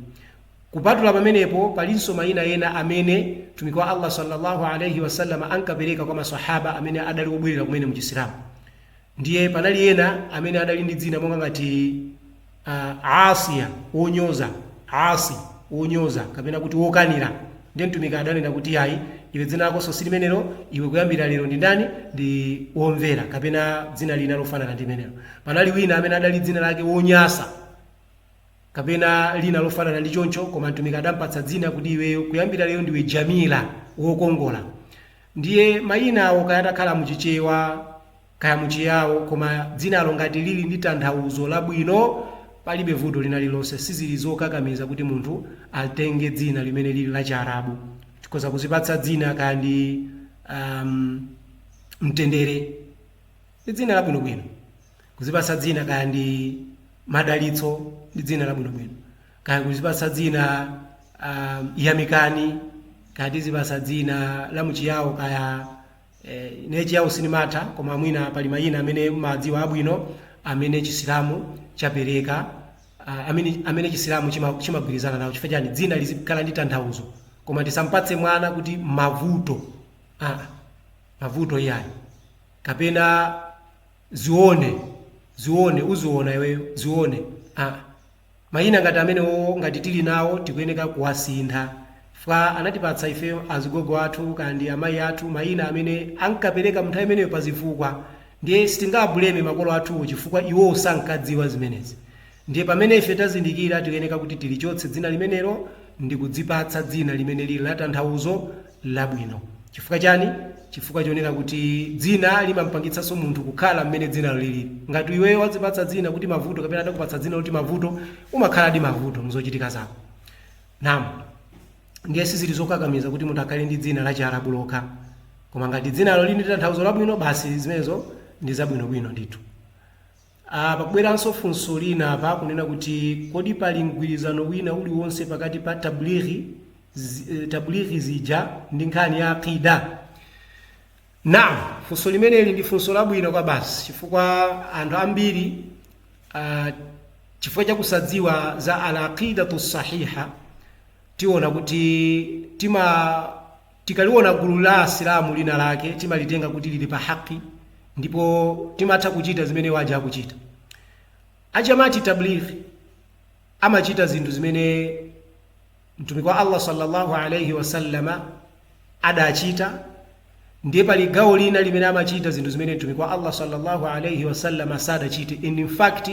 kupatula pamenepo palinso mayina ena amene mtumiki wa allah sallallahu alaihi wasallam ankapereka kwa maswahaba amene adali obwerera kumene mu chisilamu ndiye panali ena amene adali ndi dzina monga ngati uh, asiya wonyoza asi wonyoza kapena kuti wokanira Ndiye Mtumiki adanena kuti, Iyayi, iwe dzina lako si limenelo, iwe kuyambira lero ndi ndani? Ndi Womvera kapena dzina lina lofanana ndi limenelo. Panali wina amene adali dzina lake Wonyasa kapena lina lofanana ndi choncho koma Mtumiki adampatsa dzina kuti iweyo kuyambira lero ndiwe Jamila, wokongola. Ndiye mayina awo kaya atakhala a mu Chichewa, kaya mu Chiyao, koma dzinalo ngati lili ndi tanthauzo labwino palibe vuto linalilonse. Sizili zokakamiza kuti munthu atenge dzina limene lili la Chiarabu. Tikhoza kuzipatsa dzina kaya ndi um, Mtendere ndi dzina labwinobwino, kuzipatsa dzina kaya ndi Madalitso ndi dzina labwinobwino, kaya kuzipatsa dzina um, Yamikani, kaya tizipatsa dzina la mu Chiyao kaya eh, ine chiyawo sinimatha koma mwina pali mayina amene mumadziwa abwino amene chisilamu chapereka ah, amene, amene chisilamu chima- chimagwirizana nawo chifukwa chani dzina lizikhala ndi tanthauzo koma tisampatse mwana kuti mavuto ah, mavuto iyayi kapena zione zione uziona iweyo zione ah, Mayina ngati amenewowo ngati tili nawo tikuyeneka kuwasintha chifukwa anatipatsa ife azigogo athu kaya ndi amayi athu mayina amene ankapereka munthawi imeneyo pazifukwa ndiye sitingawabuleme makolo athuwo chifukwa iwowo sankadziwa zimenezi ndiye pamene ife tazindikira tikuyeneka kuti tilichotse dzina limenelo ndikudzipatsa dzina limene lili latanthauzo labwino. Chifukwa chani? Chifukwa chonena kuti dzina limampangitsanso munthu kukhala mmene dzinalo liliri. Ngati iweyo wadzipatsa dzina kuti Mavuto kapena atakupatsa dzina loti Mavuto, umakhaladi Mavuto mzochitika zako. Naam. Ndiye sizili zokakamiza kuti munthu akhale ndi dzina la Chiarabu lokha. Koma ngati dzinalo lili ndi tanthauzo labwino, basi zimenezo ndi zabwinobwino ndithu. a Pakubweranso funso lina apa kunena kuti kodi pali mgwirizano wina uliwonse pakati pa Tablighi, Tablighi zija ndi nkhani ya Aqidah? Naam, funso limeneli ndi funso labwino kwabasi chifukwa anthu ambiri uh, chifukwa cha kusadziwa za al-aqidatu sahiha tiona kuti tima Tikaliona gulu la Asilamu lina lake timalitenga kuti lili pa haqq ndipo timatha kuchita zimene iwo aja akuchita. A Jamaat Tabligh amachita zinthu zimene Mtumiki wa Allah sallallahu alayhi wa sallama adachita ndiye pali gawo lina limene amachita zinthu zimene Mtumiki wa Allah sallallahu alayhi wa sallama sadachite and in fact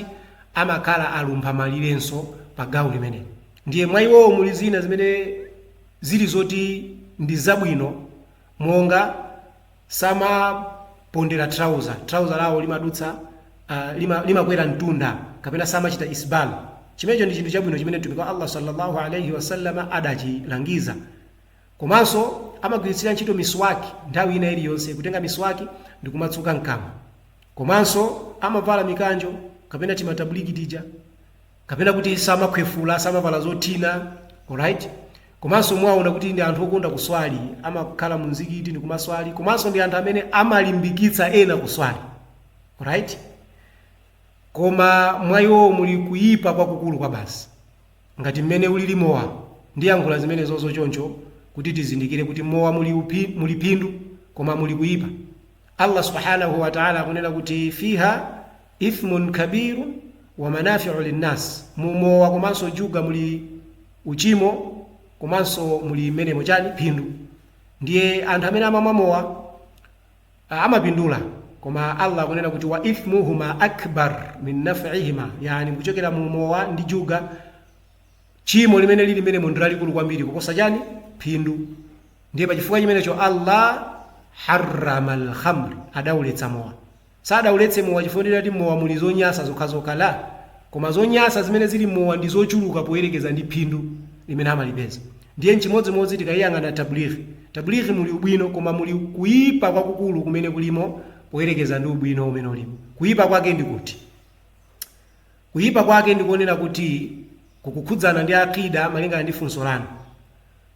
amakhala alumpha malirenso pa gawo limeneli. Ndiye mwa iwowo muli zina zimene zili zoti ndi zabwino monga samapondera trouser, trouser lawo limadutsa, uh, lima, limakwera mtunda kapena samachita isbal. Chimenecho ndi chinthu chabwino chimene Mtumiki wa Allah sallallahu alaihi wasallam adachilangiza. Komanso amagwiritsira ntchito miswaki nthawi ina iliyonse, kutenga miswaki ndi kumatsuka mkamwa. Komanso amavala mikanjo kapena tima Tablighi tija kapena kuti samakhwefula samavala zothina alright komanso mwaona kuti ndi anthu okonda kuswali amakhala mu mzikiti ndi kumaswali komanso ndi anthu amene amalimbikitsa ena kuswali alright koma mwa iwowo muli kuyipa kwakukulu kwa basi ngati mmene ulili mowa ndiyankhula zimenezozo choncho kuti tizindikire kuti mowa muli, phindu koma muli kuyipa Allah Subhaanahu wa Ta'ala akunena kuti fiha ithmun kabirun wa manafi'u linnas, mu mowa komanso juga muli uchimo komanso muli menemo chani phindu. Ndiye anthu amene amamwa mowa ah, amapindula koma Allah akunena kuti wa ithmuhuma akbar min naf'ihima, yani m'kuchokera mu mowa ndi juga Tchimo limene lili menemo ndi lalikulu kwambiri kuposa chani? Phindu. Ndiye pa chifukwa chimenecho Allah harramal khamr, adauletsa mowa. Sadauletse mowa chifukwa choti ati m'mowa muli zonyansa zokhazokha la, koma zonyansa zimene zili m'mowa ndi zochuluka poyerekeza ndi phindu limene amalipeza. Ndiye n'chimodzimodzi tikayang'ana Tabligh. Tabligh muli ubwino koma muli kuipa kwakukulu kumene kulimo poyerekeza ndi ubwino umene ulimo. Kuipa kwake ndi kuti? Kuyipa kwake ndi konena kuti kukukhudzana ndi Aqeeda malingana ndi funso lanu.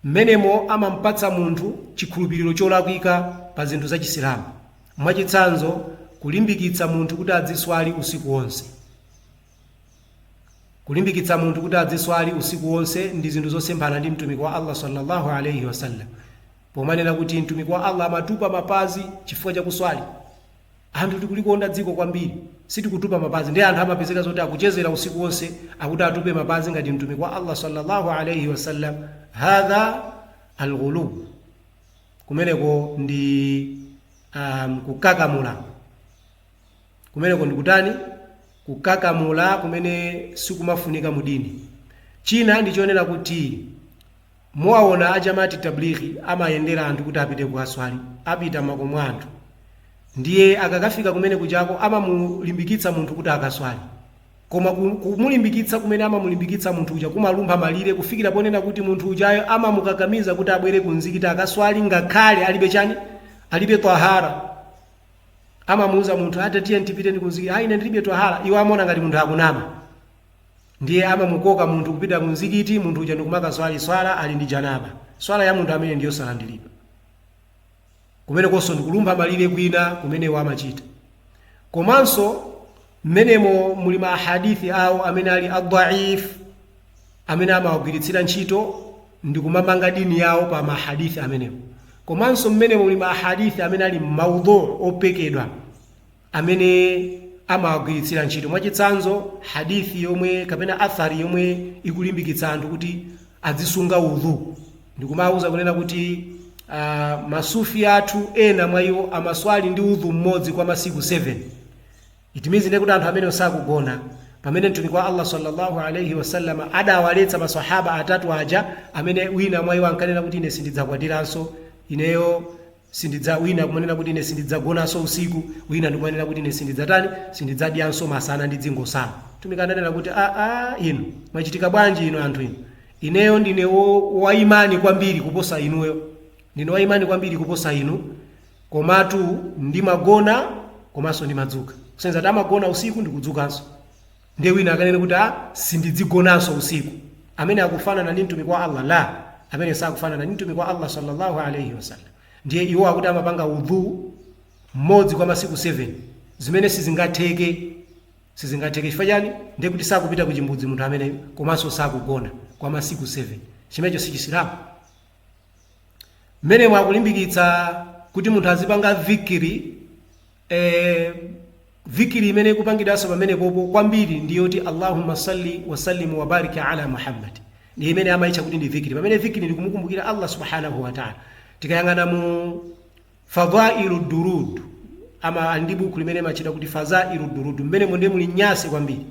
M'menemo amamupatsa munthu chikhulupiliro cholakwika pa zinthu za Chisilamu. Mwachitsanzo, kulimbikitsa munthu kuti adziswali usiku wonse. Kulimbikitsa munthu kuti adziswali usiku wonse ndi zinthu zosemphana ndi Mtumiki wa Allah swalla Allahu alaih wasallam pomanena kuti Mtumiki wa Allah amatupa mapazi chifukwa cha kuswali. Anthu tikulikonda dziko kwambiri sitikutupa mapazi nde anthu amapezeka zoti akuchezera usiku wonse akuti atupe mapazi ngati mtumiki wa Allah sallallahu alayhi wasallam hadha alghulu kumeneko ndi um, kukakamula kumeneko ndikutani kukakamula kumene sikumafunika mudini china ndi chonena kuti Muwaona a Jamaat Tablighi amayendera anthu kuti apite kukaswali, apita m'makomo a anthu. Ndiye akakafika kumene kujako amamulimbikitsa munthu kuti akaswali. Koma ku kumulimbikitsa kumene amamulimbikitsa munthu uja kumalumpha malire kufikira ponena kuti munthu ujayo amamukakamiza kuti abwere ku mzikiti akaswali ngakhale alibe chani? Alibe twahara. Amamuuza munthu, ah tatiyeni tipiteni ku mzikiti. Ah ine ndilibe twahara. Iwo amaona ngati munthu akunama. Ndiye amamukoka munthu kupita ku mzikiti, munthu uja ndikumakaswali swala ali ndi janaba. Swala ya munthu ameneyo ndiyosalandiridwa. Kumenekonso ndikulumpha malire kwina kumene iwo amachita. Komanso mmenemo muli ma hadith awo amene ali a dhaif amene amawagwiritsira ntchito ndikumamanga dini yawo pa ma hadith amenewo. Komanso mmenemo muli ma hadith amene ali maudhu, opekedwa. amene amawagwiritsira ntchito mwachitsanzo hadithi yomwe kapena athari yomwe ikulimbikitsa anthu kuti adzisunga udhu ndikumawuza kunena kuti uh, masufi athu ena mwa iwo amaswali ndi udhu mmodzi kwa masiku 7 it means nde kuti anthu amenewo sakugona pamene mtumiki wa allah sallallahu alaihi wasallam adawaletsa masahaba atatu aja amene wina mwa iwo ankanena kuti ine sindidzakwatiranso ineyo Sindidza, wina kumanena kuti ine sindidzagonanso usiku, wina ndikumanena kuti ine sindidzatani, sindidzadyanso masana ndidzingosala. Mtumiki ananena kuti a a inu mwachitika bwanji inu anthu inu, ineyo ndine wo, waimani kwambiri kuposa inuyo, ndine waimani kwambiri kuposa inu, komatu ndimagona komanso ndimadzuka. Kusonyeza kuti amagona usiku ndikudzukanso. Ndiye wina akanene kuti ah, sindidzigonanso usiku, ameneyo akufanana ndi mtumiki wa Allah? La, ameneyo sakufanana ndi mtumiki wa Allah sallallahu alaihi wasallam. Ndiye iwo akuti amapanga udhu mmodzi kwa masiku 7 zimene sizingatheke sizingatheke chifukwa chani ndiye kuti sakupita ku chimbudzi munthu ameneyo komanso sakugona kwa masiku 7 chimenecho si chisilamu mmenemo akulimbikitsa kuti munthu azipanga dhikri eh, dhikri imene ikupangidwanso pamenepopo kwambiri ndi yoti allahumma salli wasallim wabarik ala muhammad ndi imene amayitcha kuti ndi dhikri pamene dhikri ndi kumukumbukira allah subhanahu wataala tikayang'ana mu Fadhailu Duruud ama ali ndi bukhu limene limatchedwa kuti Fazailu Duruud, m'menemo ndiye muli nyansi kwambiri.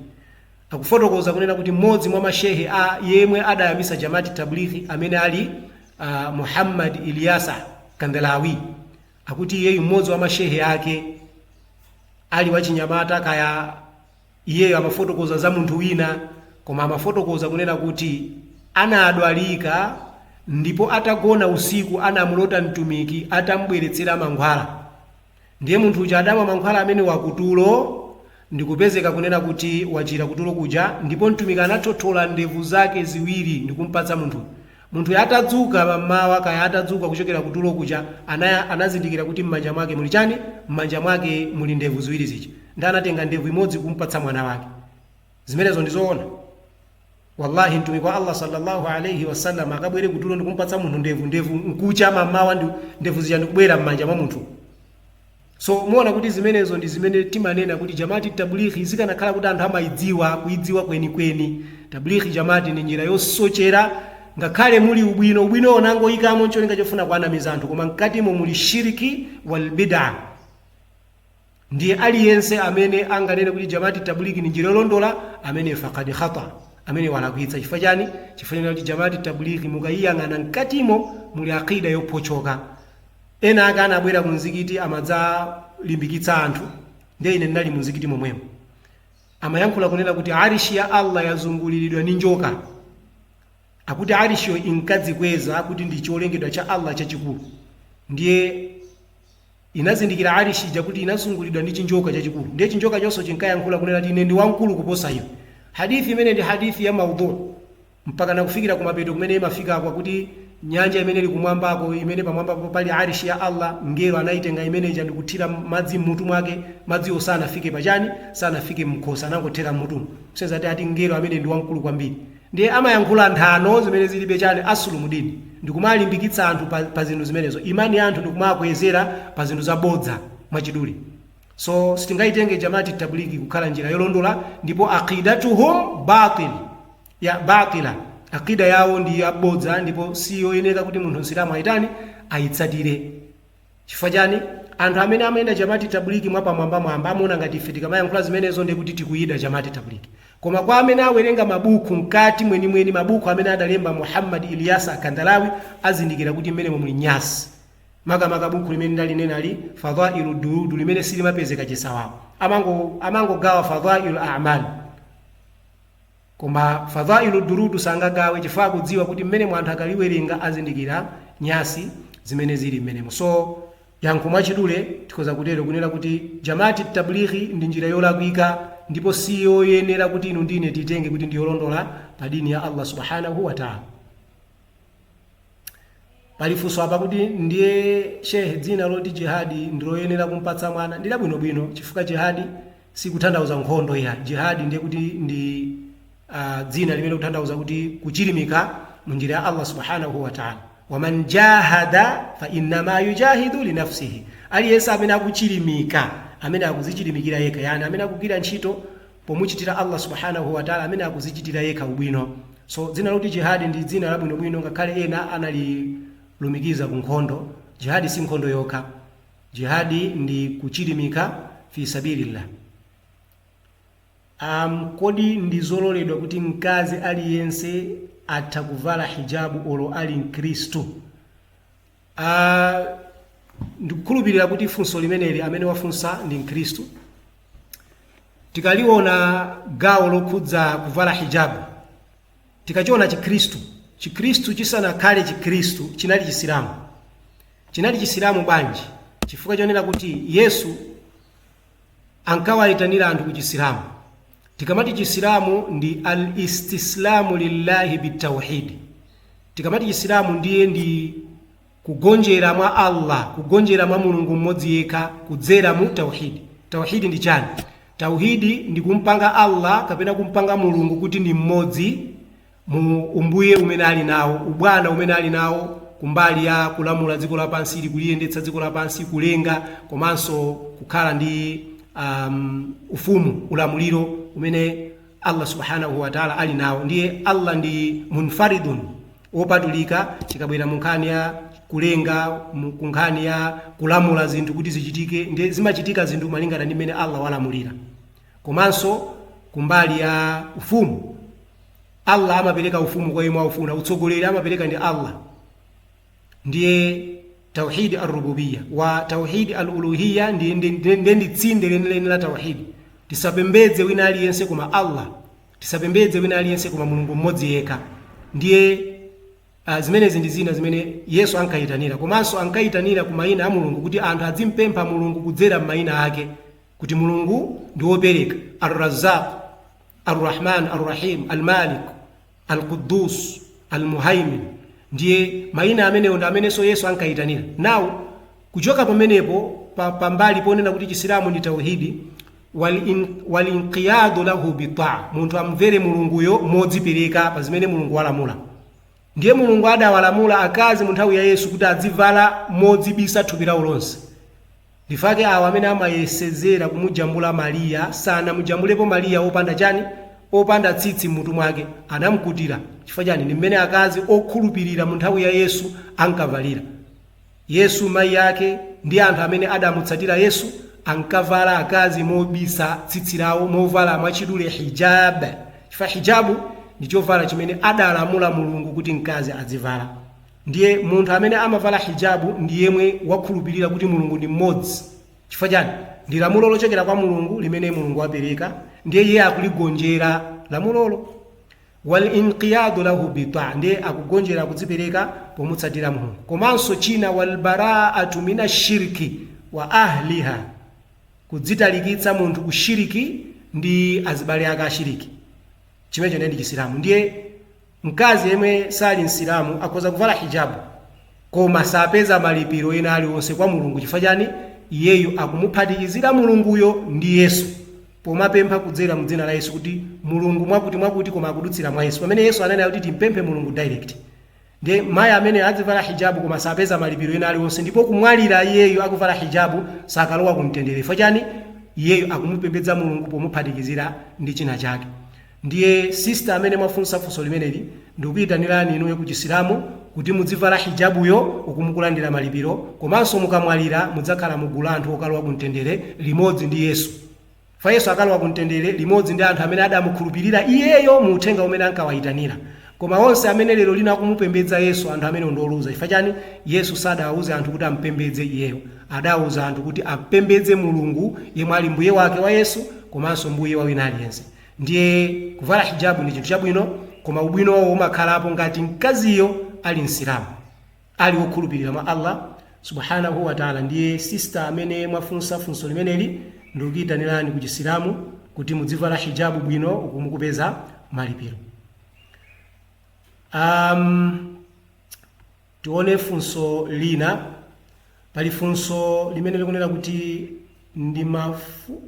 Akufotokoza kunena kuti m'modzi mwa ma Shehe a, yemwe adayambisa Jamat Tablighi amene ali a Muhammad Ilyasa Kandhlawi, akuti iyeyu m'modzi wa ma Shehe ake ali wachinyamata kaya, Iyeyo amafotokoza za munthu wina, koma amafotokoza kunena kuti anadwalika ndipo atagona usiku anamulota Mtumiki atam'bweretsera mankhwala. Ndiye munthu uja adamwa mankhwala amenewa kutulo ndikupezeka kunena kuti wachira kutulo kuja ndipo Mtumiki anathothola ndevu zake ziwiri ndikumpatsa munthu Munthuyo atadzuka mammawa, kaya atadzuka kuchokera ku tulo kuja, ana, anazindikira kuti mmanja mwake muli chani? Mmanja mwake muli ndevu ziwiri zija. Nde anatenga ndevu imodzi kumpatsa mwana wake. Zimenezo ndi zoona? Wallahi Mtumiki wa Allah salla Allah alaih wasallam akabwere ku tulo ndikumpatsa munthu ndevu, ndevu nkucha mammawa ndevu zija ndikubwera mmanja mwa munthu. So, muona kuti zimenezo ndi zimene timanena kuti Jamaat-i-tablighi zikanakhala kuti anthu amaidziwa, kuidziwa kweni kweni, Tablighi Jamaat ndi njira yosochera, ngakhale muli ubwino, ubwinowo nangoikamo ncholinga chofuna kuwanamiza anthu, koma mkatimo muli shirk wal bid'ah. Ndiye aliyense amene anganene kuti Jamaat-i-tablighi ndi njira yolondola, ameneyo faqad khata, ameneyo walakwitsa. Chifukwa chani? Chifukwa chonena kuti Jamaat-i-tablighi mukaiyang'ana mkatimo muli aqeeda yophotchoka. Ena ake anabwera ku mzikiti amadzalimbikitsa anthu ndiye ine ndinali mu mzikiti momwemo. Amayankhula kunena kuti Arish ya Allah yazunguliridwa ndi njoka. Akuti Arishyo inkadzikweza kuti ndi cholengedwa cha Allah chachikulu. Ndiye inazindikira Arish ija kuti inazunguliridwa ndi chinjoka chachikulu. Ndiye chinjokachonso chinkayankhula kunena kuti ine ndi wamkulu kuposa iwe. Hadith imeneyi ndi hadith ya maudhu. mpakana kufikira kumapeto kumene imafika kwakuti nyanja imene ili kumwambako imene pamwambapo pali arishi ya Allah mngelo anaitenga imene ija ndikuthira madzi mmutu mwake madziwo sanafike pachani sanafike mkhosi anangothera mmutumu kusonyeza ati ati mngelo amene ndi wamkulu kwambiri ndiye amayankhula nthano zimene zilibe chani asulu mudini ndikumalimbikitsa anthu pa, pa zinthu zimenezo imani ya anthu ndikumakwezera pa zinthu zabodza mwachidule so sitingaitenge jamati tablighi kukhala njira yolondola ndipo aqidatuhum batil baatila. Aqida yawo ndi ya bodza ndipo si yoyeneka kuti munthu Msilamu aitani? Aitsatire. Chifukwa chani? Anthu amene amayenda Jamat Tablighi mwapamwambamwamba amaona ngati ife tikamayankhula zimenezo ndiye kuti tikuyida Jamat Tablighi. Koma kwa amene awerenga mabuku mkati mwenimweni mabuku amene adalemba Muhammad Ilyas Akandalawi azindikira kuti mmenemo muli nyasi. Makamaka buku limene ndalinenali Fadhailu Durudu limene silimapezeka chisawawa. Amango amangogawa Fadhailu A'mal. Koma Fadhailu Durudu sangagawe chifukwa akudziwa kuti mmenemo anthu akaliwerenga azindikira nyasi zimene zili mmenemo. So, yankho mwachidule tikhoza kutero kunena kuti Jamaat Tablighi ndi njira yolakwika ndipo siyoyenera kuti inu ndi ine tiitenge kuti ndiyolondola pa dini ya Allah Subhaanahuu Wataalaa. pali funso apa kuti ndiye shehe dzina loti jihadi ndiloyenera kumpatsa mwana ndi labwinobwino chifukwa jihadi sikutanthauza nkhondo ayi jihadi ndiye kuti ndi uh, dzina limene kutanthauza kuti kuchilimika mu njira ya allah subhanahu wa taala waman jahada fa innama yujahidu linafsihi aliyense amene akuchilimika amene akuzichilimikira yekha yani amene akugwira ntchito pomuchitira Allah Subhaanahu wa Ta'la amene akuzichitira yekha ubwino. So, dzina loti Jihad ndi dzina labwinobwino ngakhale ena analilumikiza ku nkhondo, jihad si nkhondo yokha. Jihad ndi kuchilimika fi sabilillah. Um, kodi ndizololedwa kuti mkazi aliyense atha kuvala hijabu olo ali mkristu? Ah, ndikukhulupirira kuti funso limeneli amene wafunsa ndi mkhristu tikaliona gawo lokhudza kuvala hijabu tikachiona chikhristu chikhristu chisanakhale chikhristu chinali chisilamu chinali chisilamu bwanji chifukwa chonena kuti yesu ankawayitanira anthu ku chisilamu Tikamati Chisilamu ndi Al-Istislaamu Lillahi Bit-Tawhid. Tikamati Chisilamu ndiye ndi kugonjera mwa Allah, kugonjera mwa Mulungu Mmodzi Yekha kudzera mu Tawhid. Tawhid ndi chani? Tawhid ndi kumpanga Allah kapena kumpanga Mulungu kuti ndi Mmodzi, mu umbuye umene ali nawo, ubwana umene ali nawo kumbali ya kulamula dziko lapansili kuliyendetsa dziko lapansi kulenga komanso kukhala ndi um, ufumu ulamuliro umene allah subhanahu wataala ali nawo ndiye allah ndi munfaridun wopatulika chikabwera mu nkhani ya kulenga mu- ku nkhani ya kulamula zinthu kuti zichitike ndi zimachitika zinthu malingana ndi mmene allah walamulira Komanso kumbali ya ufumu, Allah amapereka ufumu kwa yemwe aufuna, utsogoleri amapereka ndi Allah. Ndiye tauhid ar-rububiyya wa tauhid al-uluhiyya ndi ndi- ndi- ndi- ndi tsinde lenileni la tauhid. Tisapembedze wina aliyense koma Allah, tisapembedze wina aliyense koma Mulungu mmodzi yekha. Ndiye a Zimenezi ndi zina zimene Yesu ankaitanira. Komanso ankaitanira ku mayina a Mulungu kuti anthu azimupempha Mulungu kudzera m'mayina ake, kuti Mulungu ndi wopereka, Al-Razzaq, Al-Rahman Al-Rahim, Al-Malik, Al-Quddoos, Al-Muhaimin. Ndiye mayina amenewo ndi amenenso Yesu ankaitanira. Now, kuchoka pamenepo pa pambali ponena kuti Chisilamu ndi Tauheed, wal in, wal inqiyadu lahu bitaa, munthu amvere Mulunguyo modzipereka pa zimene Mulungu walamula. Ndiye Mulungu adawalamula akazi mu nthawi ya Yesu kuti azivala modzibisa thupi lawo lonse. Ndi chifukwa chake awo amene amayesezera kumujambula Mariya sanamujambulepo Mariya opanda chani? opanda tsitsi m'mutu mwake, anamkutira. Chifukwa chani? Ndi mmene akazi okhulupirira mu nthawi ya Yesu ankavalira. Yesu, mayi ake, ndi anthu amene adamutsatira Yesu ankavala, akazi, mobisa tsitsi lawo, movala mwachidule, hijaab, chifukwa hijabu ndi chovala chimene adalamula Mulungu kuti mkazi adzivala. Ndiye munthu amene amavala hijabu ndi yemwe wakhulupirira kuti Mulungu ndi mmodzi. Chifukwa chani? Ndi lamulo lochokera kwa Mulungu limene Mulungu wapereka ndiye iye akuligonjera lamulolo. wal inqiyadu lahu bi taa, ndiye kugonjera, kudzipereka, pomutsatira Mulungu. Komanso china wal baraatu mina shirki wa ahliha, kudzitalikitsa munthu ku shiriki ndi azibale ake ashiriki. Chimenecho ndiye ndi Chisilamu. Ndiye mkazi yemwe sali Msilamu akhoza kuvala hijabu koma sapeza malipiro ena aliwonse kwa Mulungu. Chifukwa chani? Iyeyo akumuphatikizira Mulunguyo ndi Yesu. pomapempha kudzera mu dzina la Yesu kuti Mulungu mwakuti mwakuti koma akudutsira mwa Yesu pamene Yesu ananena kuti timpemphe Mulungu direct ndiye mayi ameneyo adzivala hijabu koma sapeza malipiro ena aliwonse ndipo kumwalira iyeyo akuvala hijabu sakalowa ku mtendere chifukwa chani iyeyo akumupembedza Mulungu pomuphatikizira ndi china chake Ndiye sister amene mwafunsa funso limeneli ndikuitanirani inuyo ku Chisilamu kuti mudzivala hijabuyo uku mukulandira malipiro komanso mukamwalira mudzakhala mu gulu la anthu okalowa ku mtendere limodzi ndi Yesu. Chifukwa Yesu akalowa ku mtendere limodzi ndi anthu amene adamukhulupirira iyeyo mu uthenga umene ankawaitanira. Koma onse amene lero lino akumupembedza Yesu anthu amenewo ndi oluza. Chifukwa chani? Yesu sadawauze anthu kuti amupembedze iyeyo. Adauza anthu kuti apembedze Mulungu yemwe ali Mbuye wake wa Yesu komanso Mbuye wa wina aliyense. Ndiye kuvala hijabu ndi chinthu chabwino, koma ubwinowo umakhalapo ngati mkaziyo ali Msilamu, ali wokhulupirira mwa Allah Subhaanahu wa Ta'aala. Ndiye sister amene mwafunsa funso limeneli, ndikuitanirani ku Chisilamu kuti mudzivala hijabu bwino uku mukupeza malipiro. um, Tione funso lina. Pali funso limene likunena kuti,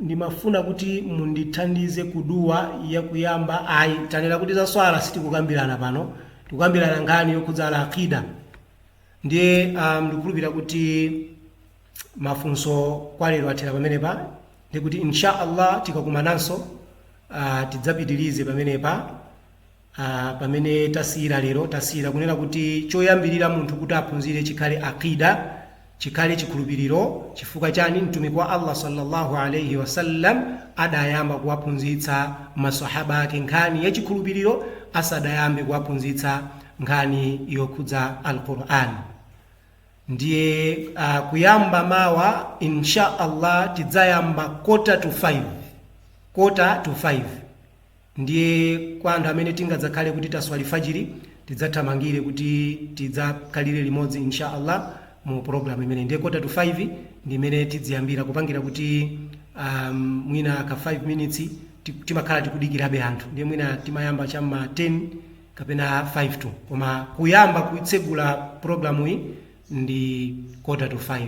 Ndimafuna kuti mundithandize ku Dua ya kuyamba Ayi, tanena kuti za swala sitikukambirana pano. Tikukambirana nkhani yokhudza Al Aqeedah. Ndiye am, ndikukhulupirira kuti mafunso kwa lero athera pamenepa. Ndi kuti Insha Allah tikakumananso ah, tidzapitirize pamenepa. a pamene tasiyira lero, tasiyira kunena kuti choyambirira munthu kuti aphunzire chikhale Aqidah, chikhale chikhulupiriro, chifukwa chani? Mtumiki wa Allah salla Allah alaih wasallam adayamba kuwaphunzitsa ma Swahaba ake nkhani ya chikhulupiriro asadayambe kuwaphunzitsa nkhani yokhudza Al Qur'an. Ndiye a kuyamba mawa in sha Allah tidzayamba quarter to five, quarter to five. Ndiye kwa anthu amene tingadzakhale kuti taswali fajiri tidzathamangire kuti tidzakhalire limodzi insha Allah mu program imeneyi ndiye kota to 5 ndi imene tidziyambira kupangira kuti um, mwina ka 5 minutes ti- timakhala tikudikirabe anthu ndiye mwina timayamba cha ma 10 kapena 5 to koma kuyamba kuitsegula programu iyi ndi kota to 5